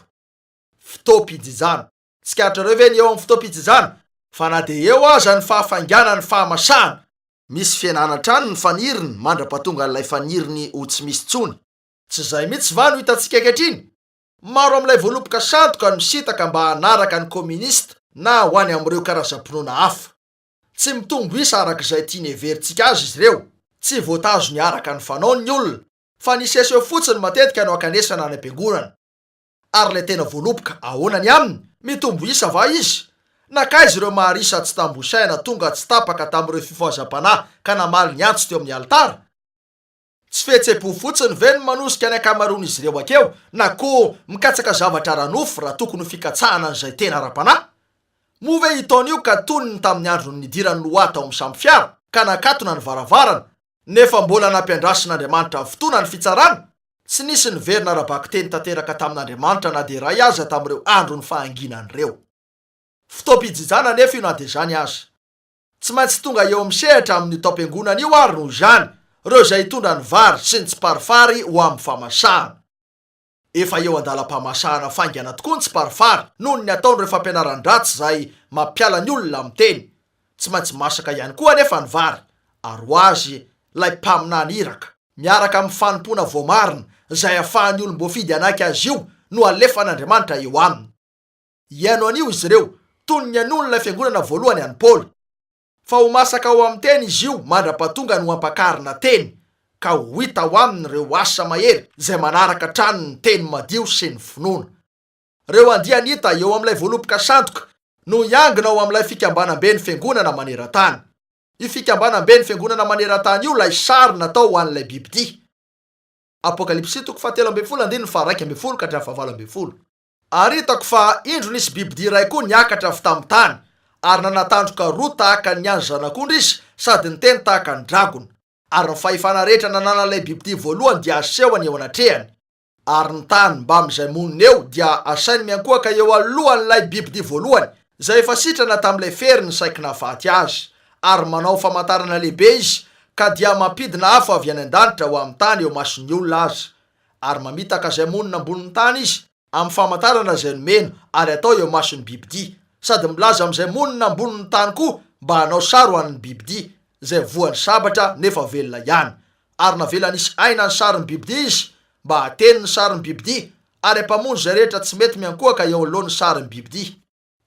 Fotoam-pijijana. Tsikaritrareo ve ny eo amin'ny fotoam-pijinjana fa na dia eo aza ny fahafainganan'ny fahamasahana, misy fihenana hatrany ny faniriny mandra-pahatongan'ilay faniriny ho tsy misy intsony? Tsy izay mihitsy va no hitantsika ankehitriny? Maro amin'ilay voaloboka sandoka no sitaka mba hanaraka ny Kominista na ho any amin'ireo karazam-pinoana hafa. Tsy mitombo isa araka izay tiany heverintsika azy izy ireo. Tsy voatazony araka ny fanaony ny olona, fa ny seho-seho fotsiny matetika no ankanesana any am-piangonana. Ary ilay tena voaloboka, ahoana ny aminy? Mitombo isa va izy? Nankaiza ireo Maharisa tsy tambo isaina tonga tsy tapaka tamin'ireo fifohazam-panahy ka namaly ny antso teo amin'ny alitara? Tsy fihetseham-po fotsiny ve no manosika ny ankamaroan'izy ireo hakeo na koa mikatsaka zavatra ara-nofo raha tokony ho fikatsahana an'izay tena ara-panahy? Moa ve hitaona io ka tony ny tamin'ny andron'ny nidiran'i Noa tao amin'ny sambo fiara ka nakatona ny varavarana Nefa mbola nampiandrasin'Andriamanitra ny fotoana ny fitsarana, tsy nisy niverina ara-bakiteny tanteraka tamin'Andriamanitra na dia iray aza tamin'ireo andron'ny fahanginana ireo. Fotoam-pijijana anefa io na dia izany aza. Tsy maintsy tonga eo amin'ny sehatra amin'io taom-piangonana io àry noho izany ireo izay hitondra ny vary sy ny tsiparifary ho amin'ny famasahana. Efa eo an-dalam-pamasahana faingana tokoa ny tsiparifary noho ny ataon'ireo fampianaran-dratsy izay mampiala ny olona amin'ny teny. Tsy maintsy masaka ihany koa anefa ny vary, ary ho azy ilay mpaminany iraka, miaraka amin'ny fanompoana voamarina izay ahafahan'ny olom-boafidy hanaiky azy io no alefan'Andriamanitra eo aminy. Hihaino anio izy ireo, toy ny nihainoan'ilay fiangonana voalohany an'i Paoly. Fa ho masaka ao amin'ny teny izy io mandra-pahatonga ny ho ampakarina teny, ka ho hita ao aminy ireo asa mahery izay manaraka hatrany ny teny madio sy ny finoana. Ireo andiany hita eo amin'ilay voaloboka sandoka no hiangona ao amin'ilay fikambanam-ben'ny fiangonana maneran-tany. Io fikambanam-ben'ny fiangonana maneran-tany io ilay sary natao ho an'ilay bibidia. Apokalypsy toko fahatelo ambin'ny folo andininy faharaika ambin'ny folo ka hatramin'ny fahavalo ambin'ny folo. Ary hitako fa indro nisy bibidia iray koa niakatra avy tamin'ny tany, ary nanana tandroka roa tahaka ny an'ny zanak'ondry izy sady niteny tahaka ny dragona. Ary ny fahefana rehetra nananan'ilay bibidia voalohany dia asehony eo anatrehany. Ary ny tany mbamin'izay monina eo dia asainy miankohoka eo alohan'ilay bibidia voalohany, izay efa sitrana tamin'ilay feriny saiky nahafaty azy. Ary manao famantarana lehibe izy, ka dia mampidina afo avy any an-danitra ho amin'ny tany eo mason'ny olona aza. Ary mamitaka izay monina ambonin'ny tany izy amin'ny famantarana izay nomena ary atao eo imason'ny bibidia, sady milaza amin'izay monina ambonin'ny tany koa mba hanao sary ho an'ny bibidia izay voan'ny sabatra nefa velona ihany. Ary navela nisy aina ny sarin'ny bibidia izy mba hateny ny sarin'ny bibidia, ary hampamonjy izay rehetra tsy mety miankohaka eo anoloan'ny sarin'ny bibidia.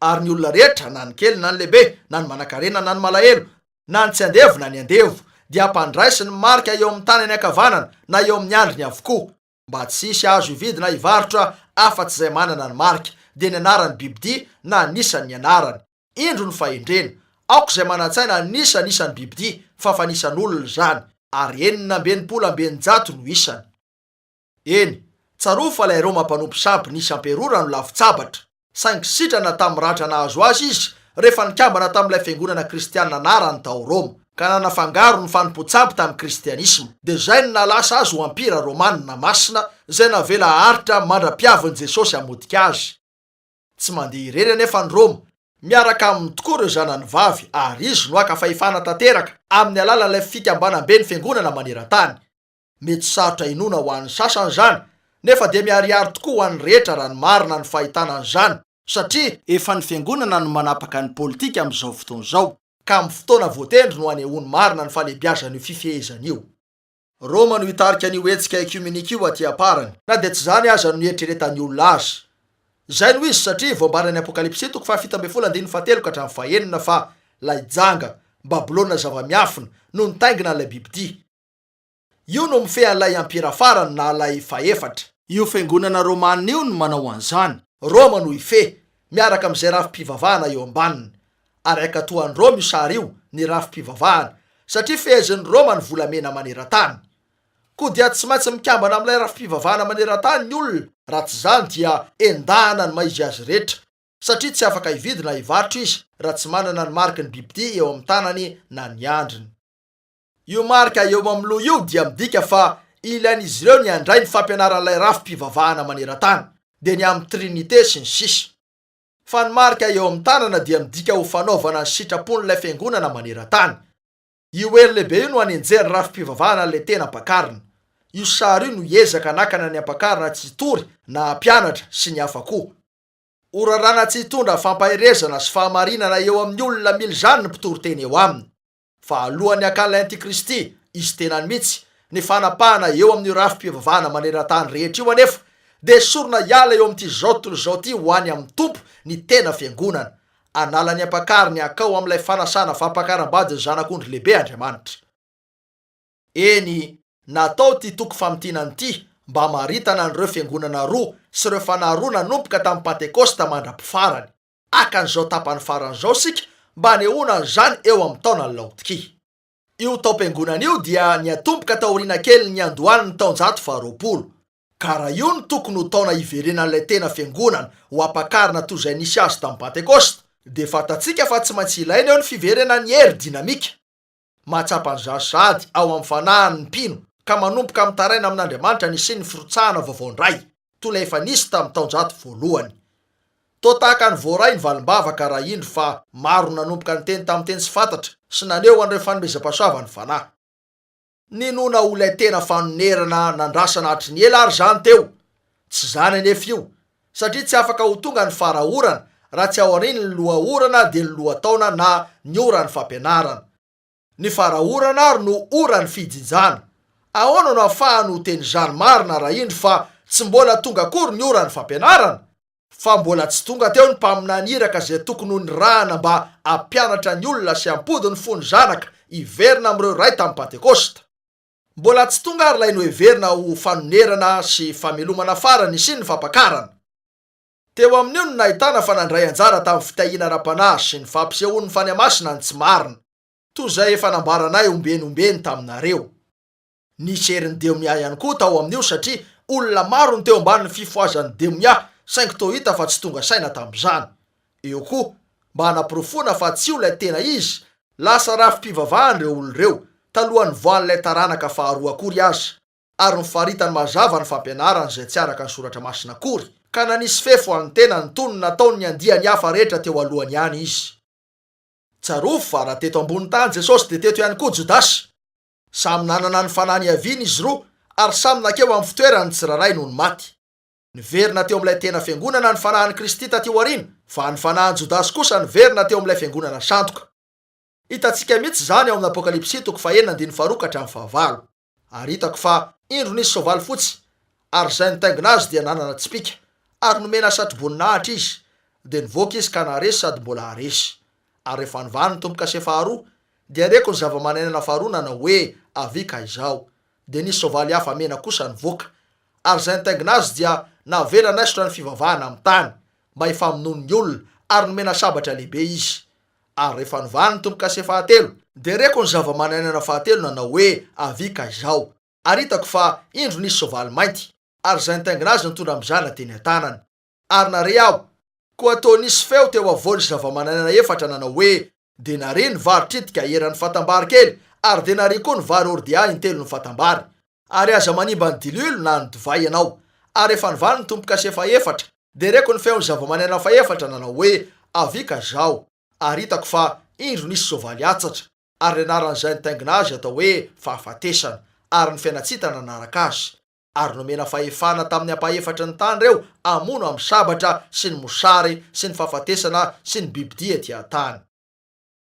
Ary ny olona rehetra, na ny kely na ny lehibe, na ny manankarena na ny malahelo, na ny tsy andevo na ny andevo, dia hampandraisiny marika eo amin'ny tanany ankavanana na eo amin'ny andriny avokoa, mba tsy hisy azo hividy na hivarotra afa-tsy izay manana ny marika, dia ny anaran'ny bibidia na anisan' ny anarany. Indro ny fahendrena. Aoka izay manan-tsaina hanisa ny isan'ny bibidia, fa fanisan'olona izany, ary enina amby enimpolo amby eninjato no isany. Eny, tsarovy fa ilay Roma mpanompo sampy nisy amperora no lavin-tsabatra, saingy sitrana tamin'ny ratra nahazo azy izy rehefa nikambana tamin'ilay fiangonana kristianina anarany tao Roma, ka nanafangaro ny fanompoan-tsampy tamin'ny kristianisma. Dia izay no nahalasa azy ho ampira romanina masina izay navela haharitra mandra-piavin'i Jesosy hamotika azy. Tsy mandeha irery anefa ny Roma, miaraka aminy tokoa ireo zanany vavy, ary izy no haka fahefana tanteraka amin'ny alalan'ilay fikambanam-ben'ny fiangonana maneran-tany. Mety sarotra inoana ho an'ny sasany izany, nefa dia miharihary tokoa ho an'ny rehetra raha ny marina ny fahitana an'izany, satria, efa ny Fiangonana no manapaka ny politika amin'izao fotoana izao, ka amin'ny fotoana voatendry no hanehoany marina ny fahalebiazan'io fifehezana io. Roma no hitarika an'io hetsika ekiomenika io aty am-parany. Na dia tsy izany aza no nieritreretan'ny olona azy. Izay no izy, satria voambaran'ny Apokalypsy toko fahafito ambin'ny folo andininy fahatelo ka hatramin'ny fahenina fa ilay janga, Babylona zava-miafina, no nitaingina an'ilay bibidia. Io no mifehy an'ilay ampira farany na ilay fahefatra. Io fiangonana romanina io no manao an'izany. Roma no hifehy, miaraka amin'izay rafi-pivavahana eo ambaniny. Ary hankatoa an'i Roma io sary io, ny rafi-pivavahana, satria fehezin'i Roma ny volamena maneran-tany. Koa dia tsy maintsy mikambana amin'ilay rafi-pivavahana maneran-tany ny olona, raha tsy izany dia endahana ny maha izy azy rehetra, satria tsy afaka hividy na hivarotra izy raha tsy manana ny mariky ny bibidia eo amin'ny tanany na ny andriny. Io marika eo amin'ny loha io dia midika fa ilain'izy ireo ny handray ny fampianaran'ilay rafi-pivavahana maneran-tany, dia ny amin'ny Trinite sy ny sisa. Fa ny marika eo amin'ny tanana dia midika ho fanaovana ny sitrapon'ilay Fiangonana maneran-tany. Io elo lehibe io no anenjehan'ny rafi-pivavahana an'ilay tena ampakarina. Io sary io no hiezaka hanakana ny ampakarina tsy hitory na hampianatra sy ny hafa koa. Ho raràna tsy hitondra fampaherezana sy fahamarinana eo amin'ny olona mila izany ny mpitoriteny eo aminy. Fa alohan'ny hakan'ilay antikristy izy tenany mihitsy, ny fanapahana eo amin'io rafi-pivavahana maneran-tany rehetra io anefa dia esorina hiala eo amin'ity izao tontolo izao ity ho any amin'ny Tompo ny tena Fiangonana. Hanala ny ampakariny hankao amin'ilay fanasana fampakaram-badin'ny Zanak'ondry lehibe Andriamanitra. Eny, natao ity toko famintinana ity mba hamaritana an'ireo Fiangonana roa sy ireo fanahy roa nanomboka tamin'ny Pantekosta mandra-pifarany. Haka an'izao tapany farany izao isika mba hanehoana an'izany eo amin'ny taona laotiky. Io taom-piangonana io dia niatomboka taoriana kelin'ny niandohan'ny taonjato faharoapolo. Ka raha io no tokony ho taona hiverenan'ilay tena fiangonana ho ampakarina toy izay nisy azy tamin'ny Pantekosta, dia fantatsika fa tsy maintsy ilaina eo ny fiverenan'ny hery dinamika. Mahatsapa an'izany sahady ao amin'ny fanahiny ny mpino ka manomboka mitaraina amin'Andriamanitra ny hisian'ny firotsahana vaovao indray, toy ilay efa nisy tamin'ny taonjato voalohany. Toa tahaka ny voaray ny valim-bavaka raha indro fa maro no nanomboka niteny tamin'ny teny tsy fantatra sy naneho an'ireo fanomezam-pahasoavana ny Fanahy. Ninoana ho ilay tena fanonerana nandrasana hatry ny ela àry izany teo. Tsy izany anefa io, satria tsy afaka ho tonga ny fara-orana raha tsy aorian'ny loha-orana dia ny lohataona na ny oran'ny fampianarana. Ny fara-orana ary no oran'ny fijinjana. Ahoana no afahany ho teny izany marina raha indro fa tsy mbola tonga akory ny oran'ny fampianarana? Fa mbola tsy tonga teo ny mpaminany iraka izay tokony ho nirahana mba hampianatra ny olona sy hampody ny fon'ny zanaka hiverina amin'ireo iray tamin'ny Pantekosta. Mbola tsy tonga ary ilay noheverina ho fanonerana sy famelomana farany sy ny fampakarana. Teo amin'io no nahitana fa nandray anjara tamin'ny fitahiana ara-panahy sy ny fampisehoan'ny fanahy masina ny tsy marina, toy izay efa nambaranay ombeny ombeny taminareo. Nisy herin'ny demia ihany koa tao amin'io satria olona maro no teo ambanin'ny fifohazan'ny demia saingy toa hita fa tsy tonga saina tamin'izany. Eo koa, mba hanaporofoana fa tsy io ilay tena izy, lasa rafi-pivavahana ireo olona ireo, talohan'ny nivoahan'ilay taranaka faharoa akory aza, ary nifaritany mazava ny fampianarany izay tsy araka ny Soratra Masina akory, ka nanisy fefy ho an'ny tenany toy ny nataon'ny andiany hafa rehetra teo alohany ihany izy. Tsarovy fa raha teto ambony tany Jesosy dia teto ihany koa Jodasy. Samy nanana ny fanahy niaviany izy roa, ary samy nankeo amin'ny fitoerany ny tsirairay nony maty. Niverina teo amin'ilay tena fiangonana ny fanahin'i Kristy tatỳ aoriana, fa ny fanahin'i Jodasy kosa niverina teo amin'ilay fiangonana sandoka. Hitantsika mihitsy izany ao amin'ny Apokalypsy toko fahenina andininy faharoa ka hatramin'ny fahavalo. Ary hitako fa indro nisy soavaly fotsy, ary izay nitaingina azy dia nanana tsipìka, ary nomena satroboninahitra izy, dia nivoaka izy ka naharesy sady mbola haharesy. Ary rehefa nivahany ny tombo-kase faharoa, dia reko ny zavamananaina faharoa nanao hoe, Avia ka izao. Dia nisy soavaly hafa mena kosa nivoaka. ary izay nitaingina azy dia navela naisotra ny fivavahana amin'ny tany mba hifamonoany ny olona ary nomena sabatra lehibe izy. Ary rehefa novahany ny tombo-kase fahatelo, dia reko ny zava-manan'aina fahatelo nanao hoe avia ka izao ary hitako fa indro nisy soavaly mainty ary izay nitaingina azy nitondra mizana teny an-tanany. ary nare aho. Koa toa nisy feo teo afovoan'izy zavamananaina efatra nanao hoe, Dia nare ny vary tritika eran'ny fatambary kely, ary dia nare koa ny vary hordea intelon'ny fatambary. Ary aza manimba ny diloilo na ny divay ianao. Ary efa nivaly ny Tompo Kasy efa efatra. Dia reko ny feon'ny zavamananaina fahefatra nanao hoe, Avia ka izaho. Ary hitako fa, indro, nisy soavaly atsatra. Ary ny anaran'izay nitaingina azy atao hoe, Fahafatesana. Ary ny Fiainantsita nanaraka azy. ary nomena fahefana tamin'ny ampahefatry ny tany ireo hamono amin'ny sabatra sy ny mosary sy ny fahafatesana sy ny bibidia ety an-tany.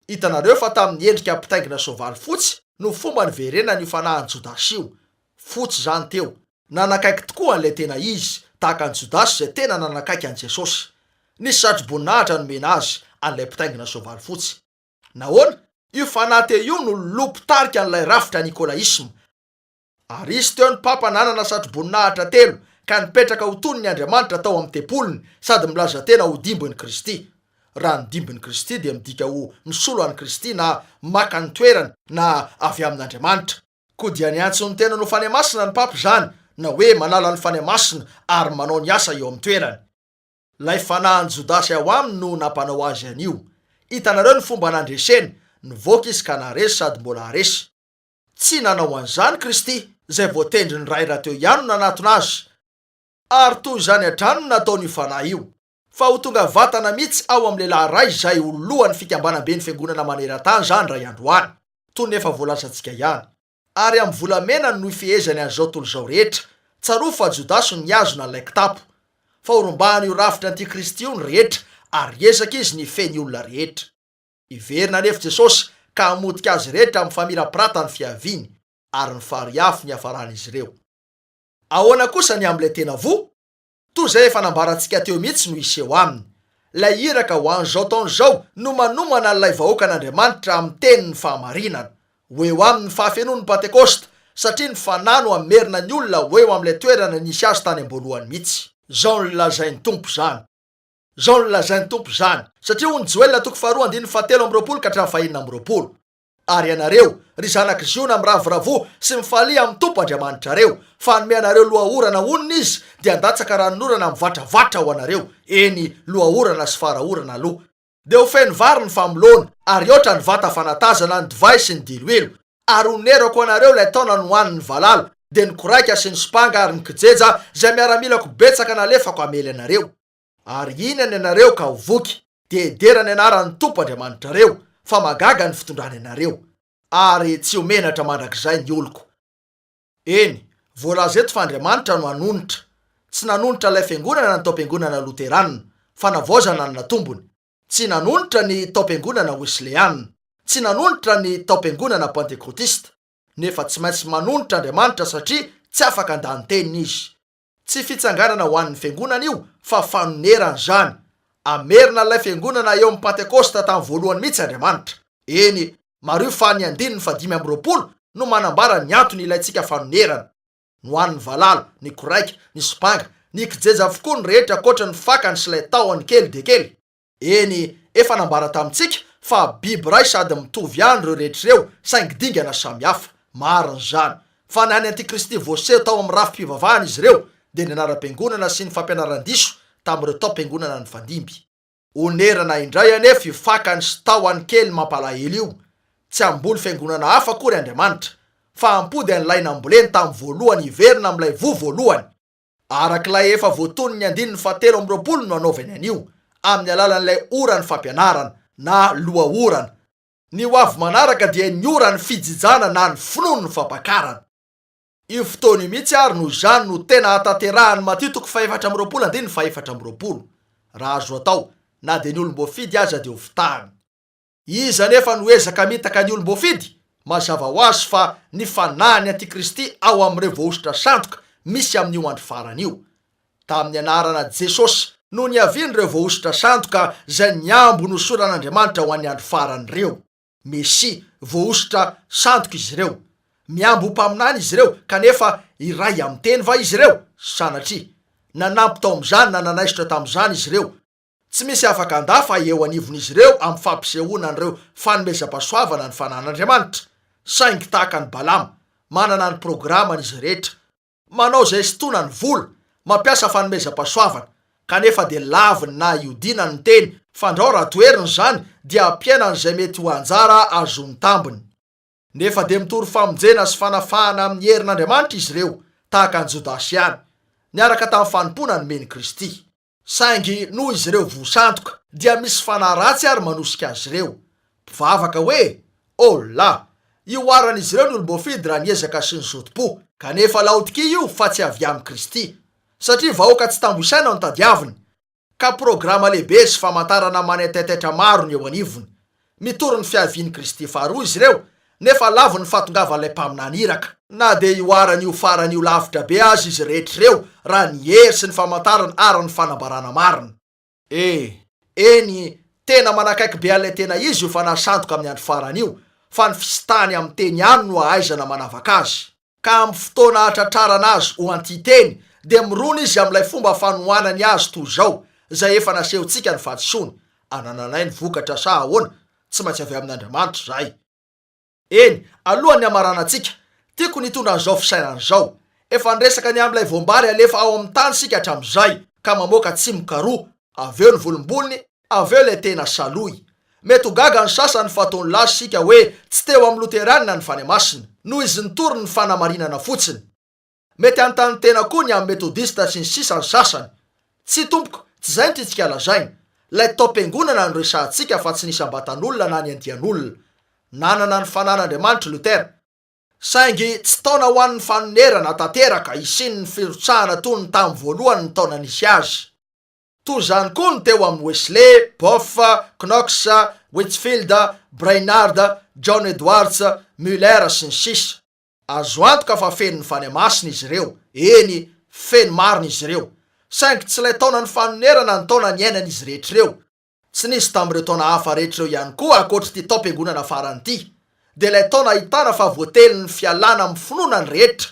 Hitanareo fa tamin'ny endrika mpitaingina soavaly fotsy no fomba niverenany io fanahin'i Jodasy io. Fotsy izany teo. Nanakaiky tokoa an'ilay tena izy, tahaka an'i Jodasy izay tena nanakaiky an'i Jesosy. Nisy satroboninahitra nomena azy an'ilay mpitaingina soavaly fotsy. Nahoana? Io fanahy teo io no loloha mpitarika an'ilay rafitra nikolaisma. Ary hisy teo ny Papa nanana satroboninahitra telo ka nipetraka ho toniny Andriamanitra tao amin'ny tempoliny sady milaza tena ho dimbin'i Kristy. Raha ny dimbin'i Kristy dia midika ho misolo an'i Kristy na maka ny toerany na avy amin'Andriamanitra. Koa dia niantso ny tenany ho Fanahy Masina ny Papa izany na hoe manala ny Fanahy Masina ary manao ny asa eo amin'ny toerany. Ilay fanahin'i Jodasy ao aminy no nampanao azy an'io. Hitanareo ny fomba nandreseny, nivoaka izy ka naharesy sady mbola haharesy. Tsy nanao an'izany Kristy, izay voatendry ny Ray raha teo ihany no nanatona Azy. Ary toy izany hatrany no nataon'io Fanahy io, fa ho tonga vatana mihitsy ao amin'ny lehilahy iray izay ho lohan'ny fikambanam-ben'ny Fiangonana maneran-tany izany indray andro any, toy ny efa voalazantsika ihany. Ary amin'ny volamena no hifehezany an'izao tontolo izao rehetra. Tsarovy fa Jodasy no nihazona an'ilay kitapo. Fa horombahan'io rafitry ny antikristy io ny rehetra, ary hiezaka izy ny hifehy ny olona rehetra. Hiverina anefa Jesosy ka hamotika azy rehetra mifamirapirata ny fiaviany ary ny fary afo ny hiafaran'izy ireo. Ahoana kosa ny amin'ilay tena voa? Toa izay efa nambarantsika teo mihitsy no hiseho aminy. Ilay iraka ho an'izao taona izao no manomana an'ilay vahoakan'Andriamanitra amin'ny tenin'ny fahamarinana. Ho eo aminy ny fahafenoan'ny Pantekosta, satria ny Fanahy no hamerina ny olona ho eo amin'ilay toerana nisy azy tany am-boalohany mihitsy. Izao no lazain'ny Tompo izany. Izao no lazain'ny Tompo izany, Satria hono Joela toko faharoa andininy fahatelo amby roapolo ka hatramin'ny fahenina amby roapolo. Ary ianareo, ry zanak'i Ziona miravoravoa sy mifalia amin'ny Tompo Andriamanitrareo, fa hanome anareo lohaorana honina Izy, dia handatsaka ranonorana mivatravatra ho anareo, eny, lohaorana sy fara-orana aloha. Dia ho feno vary ny famoloana, ary hihoatra ny vata fanatazana, ny divay sy ny diloilo. Ary ho nerako ho anareo ilay taona nohanin'ny valala, dia ny koraika sy ny sopanga ary ny kijeja izay miaramilako betsaka nalefako hamely anareo. Ary hihinana ianareo ka ho voky. Dia hidera ny anaran'ny Tompo Andriamanitrareo, fa mahagaga ny fitondrana ianareo. Ary tsy ho menatra mandrakizay ny oloko. Eny, voalaza eto fa Andriamanitra no hanonitra. Tsy nanonitra ilay fiangonana ny taom-piangonana loteranina, fanavaozana ny natombony. Tsy nanonitra ny taom-piangonana wesleana. Tsy nanonitra ny taom-piangonana pantekotista. Nefa tsy maintsy manonitra Andriamanitra satria tsy afaka handany teniny Izy. Tsy fitsanganana ho an'ny Fiangonana io fa fanonerana izany. Hamerina an'ilay Fiangonana eo amin'ny Pantekôsta tamin'ny voalohany mihitsy Andriamanitra. Eny, mariho fa ny andininy fahadimy amby roapolo no manambara ny antony ilaintsika fanonerana. Nohanin'ny valala, ny koraika, ny sopanga, ny kijeja avokoa ny rehetra ankoatra ny fakany sy ilay tahony kely dia kely. Eny, efa nambara tamintsika fa biby iray sady mitovy ihany ireo rehetra ireo, saingy dingana samy hafa. Marina izany. Fa ny an'ny antikristy voaseho tao amin'ny rafi-pivavahana izy ireo dia ny anaram-piangonana sy ny fampianaran-diso tamin'ireo taom-piangonana nifandimby. Onerana indray anefa io fakany sy tahony kely mampalahelo io, tsy hamboly fiangonana hafa akory Andriamanitra, fa hampody an'ilay namboleny tamin'ny voalohany hiverina amin'ilay voa voalohany. Araka ilay efa voatonon'ny andininy fahatelo amby roapolo no anaovany an'io, amin'ny alalan'ilay oran'ny fampianarana, na loha-orana. Ny ho avy manaraka dia ny oran'ny fijijana na ny finoan'ny fampakarana. Io fotoana io mihitsy ary no izany no tena hahatanterahan'i Matio toko fahefatra amby roapolo andininy fahefatra amby roapolo. Raha azo atao, na dia ny olom-boafidy aza dia ho fitahany. Iza anefa no ezaka mitaka ny olom-boafidy? Mazava ho azy fa ny fanahin'ny antikristy ao amin'ireo voahosotra sandoka misy amin'io andro farany io. Tamin'ny anarana Jesosy no niavian'ireo voahosotra sandoka izay niambo ny hosoran'Andriamanitra ho an'ny andro farany ireo. Mesia, voahosotra, sandoka izy ireo. Miambo ho mpaminany izy ireo, kanefa iray amin'ny teny va izy ireo? Sanatria! Nanampy tao amin'izany na nanaisotra tamin'izany izy ireo. Tsy misy afaka handà fa eo anivon'izy ireo amin'ny fampisehoana an'ireo fanomezam-pahasoavana ny fananan'Andriamanitra. Saingy tahaka an'i Balama, manana ny programany izy rehetra. Manao izay sintonany ny vola, mampiasa fanomezam-pahasoavana, kanefa dia laviny na iodinany ny teny, fandrao raha toheriny izany dia ampihenany izay mety ho anjara azony tambiny. Nefa dia mitory famonjena sy fanafahana amin'ny herin'Andriamanitra izy ireo, tahaka an'i Jodasy ihany, niaraka tamin'ny fanompoana nomen'i Kristy. Saingy noho izy ireo voa sandoka, dia misy fanahy ratsy àry manosika azy ireo. Mpivavaka hoe, Oh la! Ihoaran'izy ireo ny olom-boafidy raha ny ezaka sy ny zotom-po. Kanefa Laodikia io fa tsy avy amin'i Kristy. Satria vahoaka tsy tambo isaina no tadiaviny, ka programa lehibe sy famantarana manaitaitaitra maro ny eo anivony. Mitory ny fiavian'i Kristy faharoa izy ireo, nefa lavon'ny fahatongavan'ilay Mpaminany iraka. Na dia hihoarany io farany io lavitra be aza izy rehetra ireo, raha ny hery sy ny famantarana ary ny fanambarana marina. E! Eny, tena manakaiky be an'ilay tena izy io Fanahy Sandoka amin'ny andro farany io, fa ny fisintahany amin'ny Teny ihany no ahaizana manavaka azy. ka amin'ny fotoana hahatratrarana azy ho anti-teny dia mirona izy amin'ilay fomba fanohanany azy toy izao, izay efa nasehontsika ny fahadisoany, Anananay ny vokatra sa ahoana? Tsy maintsy avy amin'Andriamanitra izahay. Eny, alohan'ny hamaranantsika, tiako ny hitondra an'izao fisainana izao, Efa niresaka ny amin'ilay voam-bary alefa ao amin'ny tany isika hatramin'izay, ka mamoaka tsimoka roa, avy eo ny volombolony, Avy eo ilay tena salohy. Mety ho gaga ny sasany fa toa nilaza isika hoe tsy teo amin'ny Loterana ny Fanahy Masina, noho izy nitory ny fanamarinana fotsiny. Mety hanontany tena koa ny amin'ny Metodista sy ny sisa ny sasany. Tsia tompoko, tsy izay no tiantsika lazaina. Ilay taom-piangonana no resahantsika fa tsy ny isam-batan'olona na ny andian'olona. Nanana ny fanan'Andriamanitra i Lotera. Saingy tsy taona ho an'ny fanonerana tanteraka hisian'ny firotsahana toy ny tamin'ny voalohan'ny taona nisy azy. Toy izany koa ny teo amin'ny Wesley, Boff, Knox, Whitfield, Brainard, John Edwards, Muller, sy ny sisa Azo antoka fa fenon'ny Fanahy Masina izy ireo, eny, feno marina izy ireo. Saingy tsy ilay taonan'ny fanonerana ny taona niainan'izy rehetra ireo. Tsy nisy tamin'ireo taona hafa rehetra ireo ihany koa ankoatr'ity taom-piangonana farany ity, dia ilay taona ahitana fa voatelin'ny fialana amin'ny finoana ny rehetra,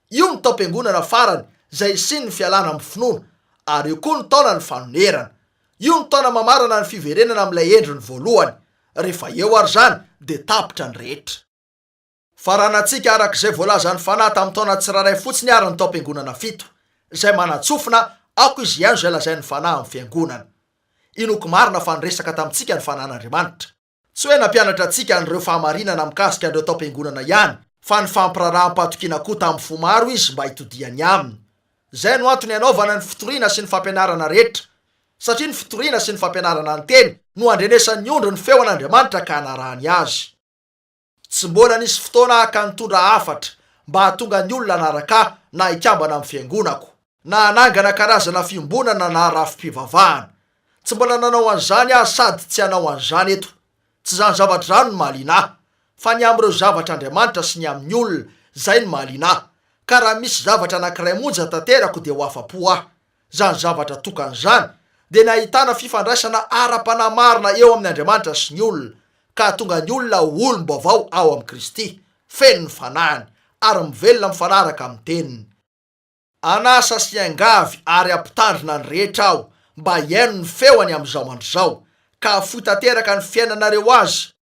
Io ny taom-piangonana farany izay hisian'ny fialana amin'ny finoana, ary io koa ny taonan'ny fanonerana. Io ny taona mamarana ny fiverenana amin'ilay endriny voalohany. Rehefa eo ary izany dia tapitra ny rehetra. Faranantsika araka izay voalazan'ny Fanahy tamin'ny taona tsirairay fotsiny àry ny taom-piangonana fito, izay manatsofina Ako izy hihaino izay lazain'ny Fanahy amin'ny fiangonana. Inoako marina fa niresaka tamintsika ny Fanan'Andriamanitra. Tsy hoe nampianatra antsika an'ireo fahamarinana mikasika an'ireo tao am-piangonana ihany, fa nifampiraharaham-pahatokiana koa tamin'ny fo maro izy mba hitodihany aminy. Izay no antony hanaovana ny fitoriana sy ny fampianarana rehetra, satria ny fitoriana sy ny fampianarana ny Teny no handrenesan'ny ondry ny feon'Andriamanitra ka hanarahany Azy. Tsy mbola nisy fotoana haka nitondra hafatra mba hahatonga ny olona hanaraka ahy na hikambana amin'ny fiangonako, na hanangana karazana fiombonana na rafi-pivavahana. Tsy mbola nanao an'izany aho sady tsy hanao an'izany eto. Tsy izany zavatra izany no mahaliana ahy, fa ny amin'ireo zavatra Andriamanitra sy ny amin'ny olona, izay no mahaliana ahy. Ka raha misy zavatra anankiray monja tanterako dia ho afa-po aho. Izany zavatra tokana izany dia ny ahitana fifandraisana ara-panahy marina eo amin' Andriamanitra sy ny olona, ka hahatonga ny olona ho olom-baovao ao amin'i Kristy, feno ny Fanahiny, ary mivelona mifanaraka amin'ny Teniny. An'asa sy angavy ary ampitandrina ny rehetra aho mba hihaino ny feony amin'izao andro izao, ka hahafoy tanteraka ny fiainanareo azy,